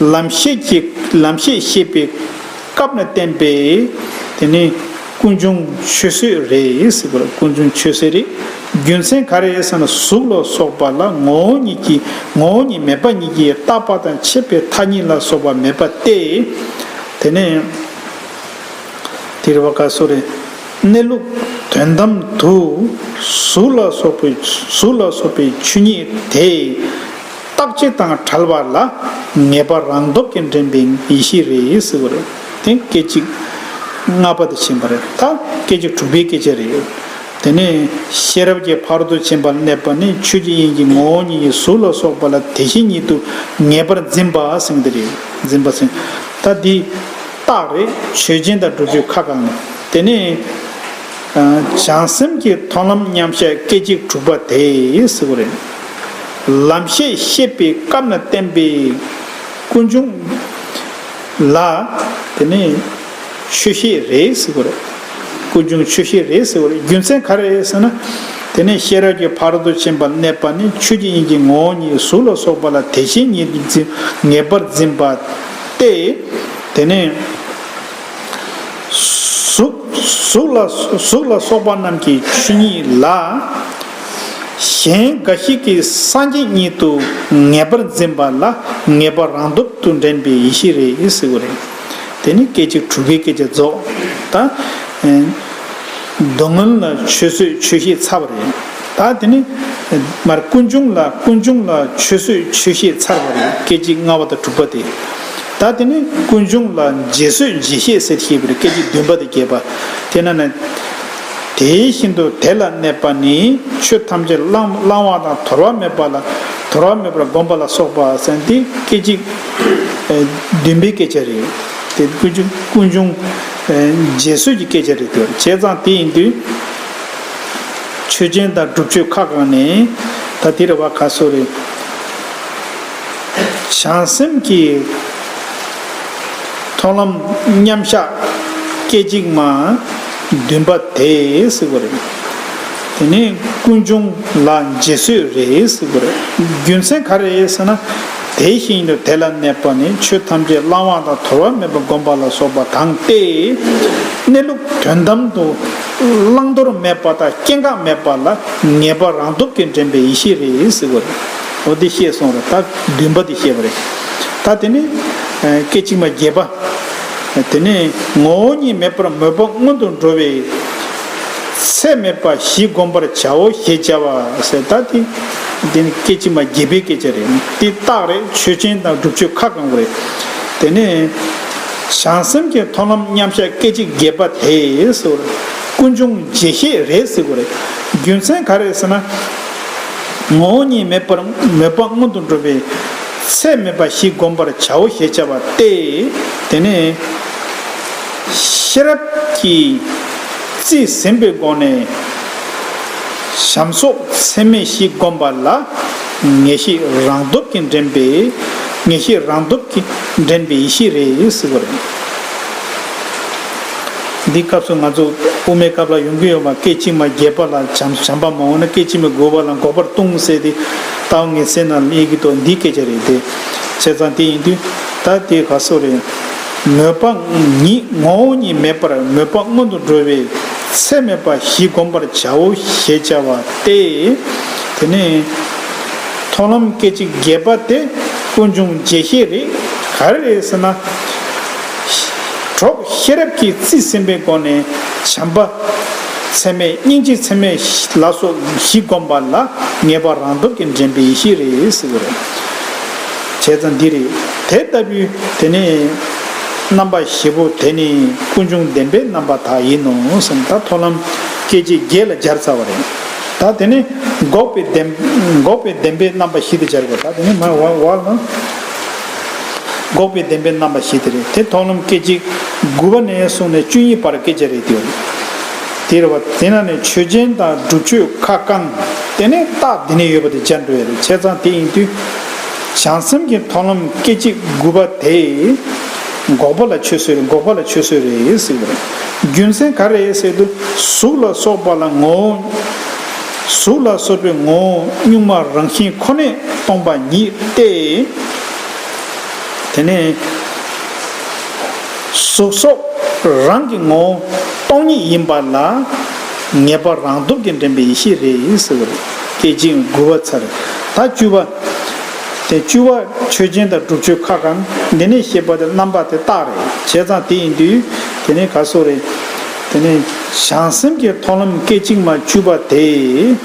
[SPEAKER 1] ལམ་ཤེས་ཀྱི་ལམ་ཤེས་བཤད་པའི་སྐབས་ན་བསྟན་པས་དེ་ནི་ཀུན་འབྱུང་ཆོས་བཟོད་རེད། ཀུན་འབྱུང་ཆོས་བཟོད་རེད། རྒྱུ་མཚན་ག་རེད་ཟེར་ན་གཟུགས་ལ་སོགས་པ་ལ་ངོ་བོ་ཉིད་ཀྱི་ངོ་བོ་ཉིད་མེད་པ་ཉིད་ཀྱིས་རྟག་པ་དང་ཆད་པའི་མཐའ་གཉིས་ལ་སོགས་པ་མེད་པ་སྟེ། དེ་ནས་དེ་རི་བ་ཀ་སོགས་རེ། གནས་ལུགས་དོན་དམ་དུ་གཟུགས་ལ་སོགས་པའི་གཟུགས་ལ་སོགས་པའི་ཆོས་ཉིད་དེ། རྟག་ཆད་དང་བྲལ་བ་ལ་ངེས་པ་རང་སྟོབས་ཀྱིས་འདྲེན་པའི་ཡེ་ཤེས་རེད་ཟེར་བ་རེད། དེ་སྐད་ཅིག་ལྔ་པ་དེ་ཕྱིན་པ་རེད། ད་སྐད་ཅིག་དྲུག་པའི་སྐད་ཆ་རེད། དེ་ནས་ཤེས་རབ་ཀྱི་བར་དུ་ཕྱིན་པར་གནས་པ་ནི་ཆོས་ཀྱི་དབྱིངས་ཀྱི་ངོ་བོ་ཉིད་ཀྱི་གཟུགས་ལ་སོགས་པ་ལ་དེ་བཞིན་ཉིད་དུ་ངེས་པར་འཛིན་པ་སེང་འདི་རེད། འཛིན་པ་སེང། ད་འདི་རྟགས་རེད་ཆོས་ཅན་དང་སྒྲུབ་ཆོས་ཁ་གང། དེ་ནས། བྱང་སེམས་ཀྱི་མཐོང་ལམ་མཉམ་གཞག་སྐད་ཅིག་དྲུག་པ་དེ་ཟེར་བ་རེད། ལམ་ཤེས་ཤེས་པའི་སྐབས་ན་བསྟན་པའི་ཀུན་འབྱུང། ལ། དེ་ནས། ཆོས་ཤེས་རེད་ཟེར་བ་རེད། ཀུན་འབྱུང་ཆོས་ཤེས་རེད་ཟེར་བ་རེད་རྒྱུ་མཚན་ག་རེད་ཟེར་ན། དེ་ནས་ཤེས་རབ་ཀྱི་བར་དུ་ཕྱིན་པར་གནས་པ་ནི་ཆོས་ཀྱི་དབྱིངས་ཀྱི་ངོ་བོ་ཉིད་གཟུགས་ལ་སོགས་པ་ལ་དེ་བཞིན་ཉིད་དུ་འཛིན་ངེས་པར་འཛིན་པ་སྟེ། དེ་ནས། གཟུགས་ལ་སོགས་པ་རྣམས་ཀྱི་ཆོས་ཉིད་ལ། གཞན་འགའ་ཞིག་གིས་སངས་རྒྱས་ཉིད་དུ་ངེས་པར་འཛིན་པ་ལ་ངེས་པ་རང་སྟོབས་དང་ལྡན་པའི་ཡེ་ཤེས་རེད་ཟེར་གྱི་རེད། དེ་ནི་སྐད་ཅིག་དྲུག་གི་སྐད་ཆ་རྫོགས། ད། སྡུག་བསྔལ་ལ་ཆོས་བཟོད་ཆོས་ཤེས་ཚར་བ་རེད། ད་དེ་ནི། མར་ཀུན་འབྱུང་ལ་ཀུན་འབྱུང་ལ་ཆོས་བཟོད་ཆོས་ཤེས་ཚར་བ་རེད་སྐད་ཅིག་ལྔ་བ་དང་དྲུག་པ་དེ། ད་དེ་ནི་ཀུན་འབྱུང་ལ་རྗེས་བཟོད་རྗེས་ཤེས་ཟེར་ཤེས་པ་རེད་སྐད་ཅིག་བདུན་པ་དང་བརྒྱད་པ། དེས་ན། དེའི་བཞིན་དུ་དེ་ལ་གནས་པ་ནི་ཆོས་ཐམས་ཅད་བླང་བ་དང་དོར་བ་མེད་པ་ལ་དོར་བ་མེད་པར་བསྒོམ་པ་ལ་སོགས་པ་གསན་ཏེ་སྐད་ཅིག་བདུན་པའི་སྐད་ཆ་རེད། དེ་ཀུན་འབྱུང་རྗེས་བཟོད་ཀྱི་སྐད་ཆ་རེད་དེ་བྱས་ཙང་དེ་ཡིན་དུས། ཆོས་ཅན་དང་སྒྲུབ་ཆོས་ཁ་གང་ནས་ད་དེ་རེད་བ་ག་སོ་རེད། བྱང་སེམས་ཀྱི་མཐོང་ལམ་མཉམ་གཞག་སྐད་ཅིག་མ། འདུན་པ་དེ་སྲིད་པོ་རེད། དེ་ནས་ཀུན་འབྱུང་ལ་འཇིག་གསོད་རེ་སྲིད་པོ་རེད། རྒྱུ་མཚན་ག་རེ་ཟེར་ན། དེ་བཞིན་ཡིན་དུ་དེ་ལ་གནས་པ་ནི་ཆོས་ཐམས་ཅད་བླང་བ་དང་དོར་བ་མེད་པར་བསྒོམ་པ་ལ་སོགས་པ་དང་སྟེ། གནས་ལུགས་དོན་དམ་དུ་བླང་དོར་མེད་པ་དང་སྐྱེ་འགག་མེད་པ་ལ་ངེས་པ་རང་སྟོབས་ཀྱིས་འདྲེན་པའི་ཡེ་ཤེས་རེ་སྲིད་པོ་རེད། འོ་དེ་ཤེས་སོང་རེད་ད་འདུན་པ་དེ་བཤད་པ་རེད། ད་དེ་ནས་སྐད་ཅིག་མ་བརྒྱད་པ། དེ་ནས་ངོ་བོ་ཉིད་མེད་པར་མོས་པ་སྔོན་དུ་འགྲོ་བས། ཚད་མེད་པ་བཞི་བསྒོམ་པར་བྱའོ་ཞེས་བྱ་བ་ཟེར་ད་དེ། འདི་ནི་སྐད་ཅིག་མ་བརྒྱད་པའི་སྐད་ཆ་རེད། འདི་རྟགས་རེད་ཆོས་ཅན་དང་སྒྲུབ་ཆོས་ཁ་བསྐང་བ་རེད། དེ་ནས། བྱང་སེམས་ཀྱི་མཐོང་ལམ་མཉམ་གཞག་སྐད་ཅིག་བརྒྱད་པ་དེས། ཀུན་འབྱུང་རྗེས་ཤེས་རེད་ཟེར་བ་རེད། རྒྱུ་མཚན་ག་རེད་ཟེར་ན། ངོ་བོ་ཉིད་མེད་པར་མོས་པ་སྔོན་དུ་འགྲོ་བས། ཚད་མེད་པ་ཞིག་བསྒོམ་པར་བྱའོ་ཞེས་བྱ་བ་སྟེ། དེ་ནས་ཤེས་རབ་ཀྱིས་རྩིས་ཟིན་པའི་སྒོ་ནས། བྱམས་སོགས་ཚད་མེད་བཞི་བསྒོམ་པ་ལ། ངེས་ཤེས་རང་སྟོབས་ཀྱིས་འདྲེན་པས་ངེས་ཤེས་རང་སྟོབས་ཀྱིས་འདྲེན་པའི་ཡེ་ཤེས་རེད་ཟེར་བ་རེད། འདིའི་སྐབས་སུ་ང་ཚོ་དབུ་མའི་སྐབས་ལ་ཡོང་གི་ཡོད་པ་སྐད་ཅིག་མ་རྒྱས་པ་ལ་བྱམས་པ་མང་བོ་ན་སྐད་ཅིག་མའི་རྒོལ་བ་ལ་འགོག་པར་ལྟུང་བསལ་ཏེ། རྟའུ་ངའི་སྲས་རྣམས་གཡས་ཀྱི་ཏོག་འདི་སྐད་ཅེས་རེད་དེ། བྱས་ཙང་དེ་ཡིན་དུས་ད་དེ་ག་སོགས་རེད། མོས་པ་ཉིད་ངོ་བོ་ཉིད་མེད་པར་མོས་པ་སྔོན་དུ་འགྲོ་བས་ཚད་མེད་པ་བཞི་བསྒོམ་པར་བྱའོ་ཞེས་བྱ་བ་སྟེ། དེ་ནས། མཐོང་ལམ་སྐད་ཅིག་བརྒྱད་པ་སྟེ་ཀུན་འབྱུང་བརྒྱད་ཤེས་རེད། ག་རེ་རེད་ཟེར་ན། གྲོགས་ཤེས་རབ་ཀྱིས་རྩིས་ཟིན་པའི་སྒོ་ནས་བྱམས་པ། ཚད་མེད་སྙིང་རྗེ་ཚད་མེད་ལ་སོགས་བཞི་བསྒོམས་པ་ལ་ངེས་པ་རང་སྟོབས་ཀྱིས་འདྲེན་པའི་ཡེ་ཤེས་རེ་གསལ་བ་རེ་བྱས་ཙང་འདི་རེ། དེ་ལྟ་བུའི་དེ་ནི་རྣམ་པ་བཞི་པོ་དེ་ནི་ཀུན་འབྱུང་བདེན་པའི་རྣམ་པ་དག་ཡིན་ནོ་ཟེར་ན་ད་མཐོང་ལམ་སྐྱེ་མཆེད་བརྒྱད་ལ་སྦྱར་ཚར་བ་རེ། ད་དེ་ནི་འགོག་པའི་བདེན་པའི་རྣམ་པ་བཞི་དུ་སྦྱར་བ་རེ། འགོག་པའི་བདེན་པའི་རྣམ་པ་བཞི་དེ་རེད་དེ་ཐོག་ནམ་སྐད་ཅིག་དགུ་བ་ནས་བཟུང་ནས་བཅུ་གཉིས་བར་སྐད་ཆ་རེད་དེ། དེ་རེད་བ། དེ་ན་ནས་ཆོས་ཅན་དང་སྒྲུབ་ཆོས་ཁ་བསྐང། དེ་ནས་རྟགས་དེ་ནས་ཡོད་པ་དེ་སྦྱར་འགྲོ་ཡ་རེད་བྱས་ཙང་དེ་ཡིན་དུས། བྱང་སེམས་ཀྱི་ཐོག་ནམ་སྐད་ཅིག་དགུ་བ་དེ། འགོག་པ་ལ་ཆོས་སོད་འགོག་པ་ལ་ཆོས་སོད་རེད་ཟེར་བ་རེད། རྒྱུ་མཚན་ག་རེད་ཟེར་དུས་གཟུགས་ལ་སོགས་པ་ལ་ངོ་བོ། གཟུགས་ལ་སོགས་པའི་ངོ་བོ་གཉུག་མ་རང་བཞིན་ཁོ་ནས་སྟོང་པ་ཉིད་དེ། དེ་ནས། གཟུགས་སོགས་རང་གི་ངོ་བོ་སྟོང་ཉིད་ཡིན་པ་ལ། ངེས་པར་རང་སྟོབས་ཀྱིས་འདྲེན་པའི་ཡེ་ཤེས་རེ་ཟེར་བ་རེ་སྐད་ཅིག་འགུལ་བ་ཚར་རེ་ད་བཅུ་བ། དེ་བཅུ་བ་ཆོས་ཅན་དང་སྒྲུབ་ཆོས་ཁ་གང་འདི་ནས་ཤེས་པ་དེ་རྣམ་པ་དེ་རྟགས་རེ་བྱས་ཙང་དེ་ཡིན་དུས་དེ་ནས་ག་སོགས་རེ། དེ་ནས་བྱང་སེམས་ཀྱི་མཐོང་ལམ་སྐད་ཅིག་མ་བཅུ་པ་དེས་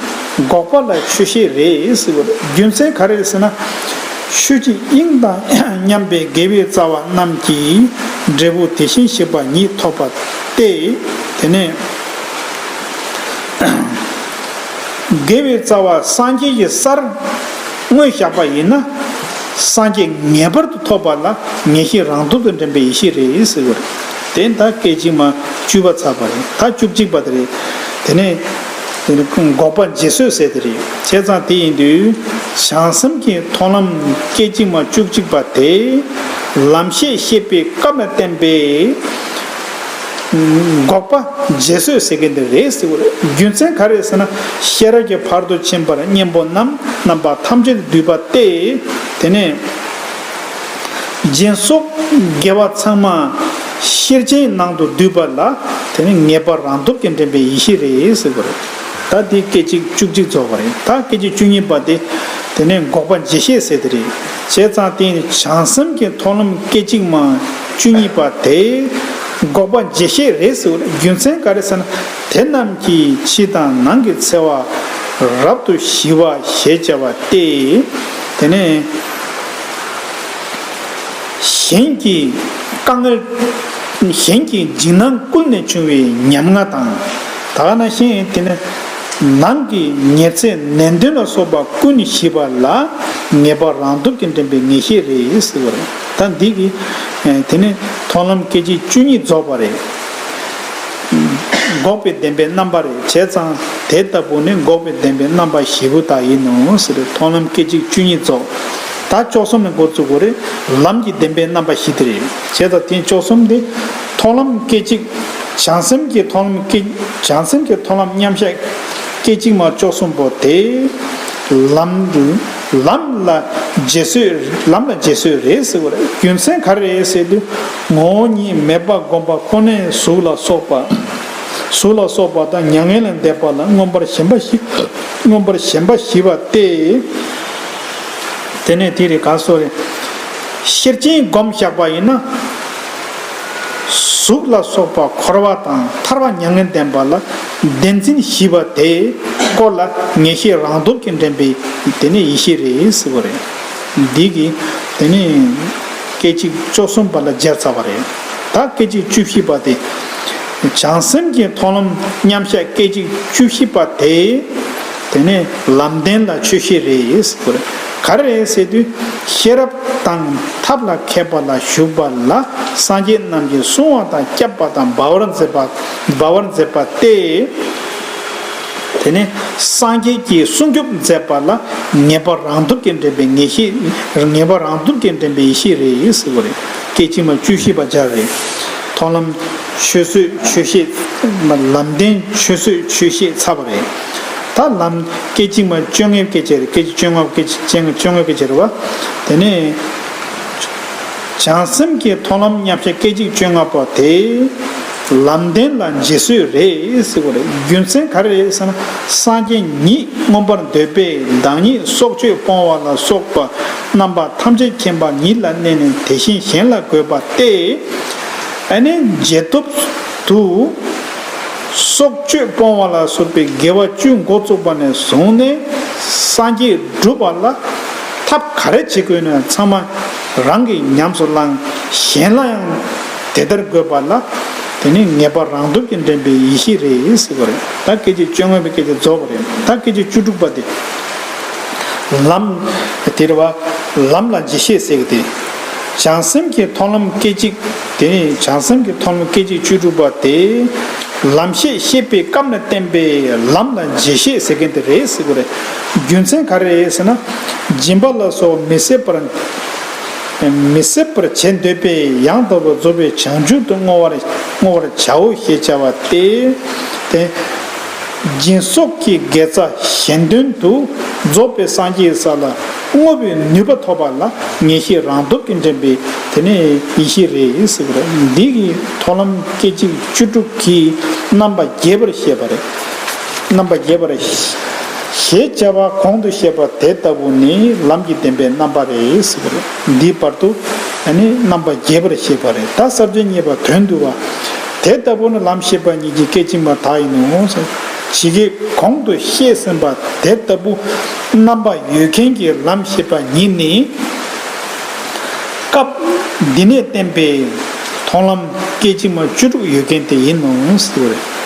[SPEAKER 1] འགོག་པ་ལ་ཆོས་ཤེས་རེས་བྱ། རྒྱུ་མཚན་ག་རེ་ཟེར་ན། ཆོས་ཀྱི་དབྱིངས་དང་མཉམ་པའི་དགེ་བའི་རྩ་བ་རྣམས་ཀྱི་འབྲས་བུ་དེ་བཞིན་གཤེགས་པ་ཉིད་ཐོབ་པ་སྟེ། དེ་ནས། དགེ་བའི་རྩ་བ་སངས་རྒྱས་ཀྱི་སར་དངོས་བཞག་པ་ཡིན་ན། སངས་རྒྱས་ངེས་པར་དུ་ཐོབ་པ་ལ་ངེས་ཤེས་རང་སྟོབས་དང་ལྡན་པའི་ཡེ་ཤེས་རེས་བྱ། དེ་མཐའ་སྐད་ཅིག་མ་བཅུ་པ་ཚར་བ་རེད་མཐའ་བཅུ་གཅིག་པ་དེ་རེད། དེ་ནས་འགོག་པ་རྗེས་བཟོད་བསལ་དེ་རེད་བྱས་ཙང་དེ་ཡིན་དུས། བྱང་སེམས་ཀྱི་མཐོང་ལམ་སྐད་ཅིག་མ་བཅུ་གཅིག་པ་དེ། ལམ་ཤེས་ཤེས་པའི་སྐབས་ལ་བརྟེན་པས། འགོག་པ་རྗེས་བཟོད་བསལ་གྱི་འདི་རེད་ཟེར་བ་རེད་རྒྱུ་མཚན་ག་རེད་ཟེར་ན། ཤེས་རབ་ཀྱི་བར་དུ་ཕྱིན་པར་གཉེན་པོ་རྣམས་རྣམ་པ་ཐམས་ཅད་དུ་བསྡུས་པ་སྟེ། དེ་ནས། སྦྱིན་སོགས་དགེ་བ་ཚང་མ་ཤེར་ཕྱིན་ནང་དུ་བསྡུས་པ་ལ་དེ་ནི་ངེས་པར་རང་སྟོབས་ཀྱིས་འདྲེན་པའི་ཡེ་ཤེས་རེད་ཟེར་དགོས་རེད། ད་དེ་སྐད་ཅིག་བཅུ་གཅིག་རྫོགས་པ་རེད་ད་སྐད་ཅིག་བཅུ་གཉིས་པ་དེ་དེ་ནས་འགོག་པ་འཇལ་ཤེས་ཟེར་དེ་རེད། བྱས་ཙང་དེ་ནི་བྱང་སེམས་ཀྱི་མཐོང་ལམ་སྐད་ཅིག་མ་བཅུ་གཉིས་པ་དེ་འགོག་པ་འཇལ་ཤེས་རེད་ཟེར་བ་ལ་རྒྱུ་མཚན་ག་རེ་ཟེར་ན་དེ་རྣམས་ཀྱིས་ཕྱི་དང་ནང་གི་འཚེ་བ་རབ་ཏུ་ཞི་བ་ཞེས་བྱ་བ་སྟེ། དེ་ནས། གཞན་གྱི་དཀའ་ངལ། གཞན་གྱི་འཇིགས་སྣང་ཀུན་ནས་བྱུང་བའི་ཉམ་ང་དང། དག་སྣང་གཞན་དེ་ནི། ནང་གི་ཉེར་འཚེ་ནན་ཏུན་ལ་སོགས་པ་ཀུན་ཞི་བ་ལ། ངེས་པ་རང་སྟོབས་ཀྱིས་འདྲེན་པའི་ངེས་ཤེས་རེད་ཟེར་བ་རེད། ད་འདི་གི། དེ་ནི་མཐོང་ལམ་སྐད་ཅིག་བཅུ་གཉིས་རྫོགས་པ་རེད། འགོག་པའི་བདེན་པའི་རྣམ་པ་རེ་བྱས་ཙང་དེ་ལྟ་བུ་ནི་འགོག་པའི་བདེན་པའི་རྣམ་པ་བཞི་པོ་དག་ཡིན་ནོ། མཐོང་ལམ་སྐད་ཅིག་བཅུ་གཉིས་རྫོགས། ད་ཅོག་གསུམ་ནི་འགོ་བཙུགས་གོ། ལམ་གྱི་བདེན་པའི་རྣམ་པ་བཞི་དེ་རེ་བྱས་ཙང་དེ་ཅོག་གསུམ་སྟེ། མཐོང་ལམ་སྐད་ཅིག། བྱང་སེམས་ཀྱི་མཐོང་ལམ་སྐད། བྱང་སེམས་ཀྱི་མཐོང་ལམ་མཉམ་གཞག། སྐད་ཅིག་མ་ཅོག་གསུམ་པོ་དེ། ལམ། ལམ་ལ། རྗེས་བཟོད་རེ་ཟེར་བ་རྒྱུ་མཚན་ག་རེ་རེད་ཟེར་དུས། ངོ་བོ་ཉིད་མེད་པར་བསྒོམ་པ་ཁོ་ནས་གཟུགས་ལ་སོགས་པ། གཟུགས་ལ་སོགས་པ་དང་མྱ་ངན་ལས་འདས་པ་ལ་མངོན་པར་ཞེན་པ་ཞིག་མངོན་པར་ཞེན་པ་ཞི་བ་སྟེ། དེ་ནས་དེ་རེས་ག་སོགས་རེ། ཤེར་ཕྱིན་བསྒོམ་བཞག་པ་ཡིན་ན། གཟུགས་ལ་སོགས་པ་འཁོར་བ་དང་ཐར་བ་མྱ་ངན་ལྡན་པ་ལ་བདེན་འཛིན་ཞི་བ་དེ་སྐོར་ལ་ངེས་ཤེས་རང་སྟོབས་ཀྱིས་འདྲེན་པའི་དེ་ནས་ཡེ་ཤེས་རེ་ཟེར་བ་རེད། འདི་གིས་དེ་ནས། སྐད་ཅིག་བཅོ་གསུམ་པ་ལ་སྦྱར་ཚར་བ་རེད། ད་སྐད་ཅིག་བཅུ་བཞི་པ་དེ། བྱང་སེམས་ཀྱི་མཐོང་ལམ་མཉམ་གཞག་སྐད་ཅིག་བཅུ་བཞི་པ་དེ། དེ་ནི་ལམ་བདེན་ལ་ཆོས་ཤེས་རེད། ག་རེ་རེད་ཟེར་དུས། ཤེས་རབ་དང་ཐབས་ལ་མཁས་པ་ལ་ཞུགས་པ་ལ་སངས་རྒྱས་རྣམས་ཀྱིས་བསྲུང་བ་དང་བསྐྱབ་པ་དང་སྦ་བར་མཛད་པ་སྟེ། དེ་ནས་སངས་རྒྱས་ཀྱིས་སྲུང་སྐྱོབ་མཛད་པ་ལ་ངེས་པ་རང་སྟོབས་ཀྱིས་འདྲེན་པའི་ངེས་ཤེས་ངེས་པ་རང་སྟོབས་ཀྱིས་འདྲེན་པའི་ཡེ་ཤེས་རེད་ཟེར་བ་རེད་སྐད་ཅིག་མ་བཅུ་བཞི་པ་སྦྱར་བས། མཐོང་ལམ་ཆོས་བཟོད་ཆོས་ཤེས། ལམ་བདེན་ཆོས་བཟོད་ཆོས་ཤེས་ཚར་བ་རེད། ད་ལམ་སྐད་ཅིག་མ་བཅོ་ལྔའི་སྐད་ཆ་རེད་སྐད་ཅིག་བཅོ་ལྔ་བཅོ་ལྔའི་སྐད་ཆ་རེད་བ། དེ་ནས་བྱང་སེམས་ཀྱི་མཐོང་ལམ་མཉམ་བཞག་སྐད་ཅིག་བཅོ་ལྔ་པོ་དེ། ལམ་བདེན་ལ་རྗེས་སུ་རེས་རྒྱུ་མཚན་ག་རེ་རེད་ཟེར་ན་སངས་རྒྱས་ཉིད་མངོན་པར་འདོད་པས་བདག་ཉིད་སྲོག་གཅོད་སྤོང་བ་ལ་སོགས་པ་རྣམ་པ་ཐམས་ཅད་མཁྱེན་པ་ཉིད་ལ་གནས་ནས་དེ་བཞིན་གཞན་ལ་འགོད་པ་སྟེ། ཨ་ནི་རྗེས་ཐོབ་ཏུ། སྲོག་གཅོད་སྤོང་བ་ལ་སོགས་པའི་དགེ་བ་བཅུ་འགོ་བཙུགས་པ་ནས་བཟུང་ནས་སངས་རྒྱས་བསྒྲུབ་པ་ལ་ཐབས་ག་རེ་བྱེད་དགོས་ན་ཚང་མ་རང་གིས་ཉམས་སུ་བླངས་གཞན་ལ་ཡང་དེ་ལྟར་དགོས་པ་ལ། དེ་ནི་ངེས་པར་རང་སྟོབས་ཀྱིས་འདྲེན་པའི་ཡེ་ཤེས་རེད་ཟེར་བ་རེད། ད་སྐད་ཅིག་བཅོ་ལྔ་པའི་སྐད་ཆ་རྫོགས་པ་རེད། ད་སྐད་ཅིག་བཅུ་དྲུག་པ་དེ། ལམ། དེ་རེད་བ། ལམ་ལ་རྗེས་ཤེས་ཟེར་གི་དེ། བྱང་སེམས་ཀྱི་མཐོང་ལམ་སྐད་ཅིག་དེ། བྱང་སེམས་ཀྱི་མཐོང་ལམ་སྐད་ཅིག་བཅུ་དྲུག་པ་དེ། ལམ་ཤེས་ཤེས་པའི་སྐབས་ན་བསྟན་པའི་ལམ་ལ་རྗེས་ཤེས་ཟེར་མཁན་དེ་རེད་ཟེར་བ་རེད། རྒྱུ་མཚན་ག་རེ་ཡིན་ཟེར་ན། སྦྱིན་པ་ལ་སོགས་མི་ཟད་པར། མི་སྲིད་པར་བྱེད་འདོད་པས་ཡང་དག་པར་རྫོགས་པའི་བྱང་ཆུབ་ཏུ་བསྔོ་བར་བྱའོ་ཞེས་བྱ་བ་སྟེ། སྦྱིན་སོགས་ཀྱི་དགེ་རྩ་གཞན་དོན་དུ་རྫོགས་པའི་སངས་རྒྱས་ས་ལ་བསྔོ་བའི་ནུས་པ་ཐོབ་པ་ལ་ངེས་ཤེས་རང་སྟོབས་ཀྱིས་འདྲེན་པའི་དེ་ནི་ཡེ་ཤེས་རེད་ཟེར་གྱི་རེད། འདིའི་ཐོག་ལམ་སྐད་ཅིག་བཅུ་དྲུག་གིས་རྣམ་པ་རྒྱས་པར་བཤད་པ་རེད། རྣམ་པ་རྒྱས་པར་ཞེས་བྱ་བ་གོང་དུ་བཤད་པ་དེ་ལྟ་བུ་ནི་ལམ་གྱི་བདེན་པའི་རྣམ་པ་རེད། འདིའི་བར་དུ་ནི་རྣམ་པ་རྒྱས་པར་བཤད་པ་རེད་ད་ཟབ་ཅིང་རྙེད་པ་དོན་བསྡུ་བ། དེ་ལྟ་བུ་ནི་ལམ་ཤེས་པ་ཉིད་ཀྱི་སྐད་གཅིག་མ་དག་ཡིན་ནོ། ཇི་སྐད་གོང་དུ་བཤད་ཟིན་པ་དེ་ལྟ་བུ་རྣམ་པ་ཡོད་མཁན་གྱི་ལམ་ཤེས་པ་ཉིད་ནི། སྐབས་འདི་ནས་བསྟན་པའི་མཐོང་ལམ་སྐད་གཅིག་མ་བཅུ་དྲུག་ཡོད་མཁན་དེ་ཡིན་ནོ།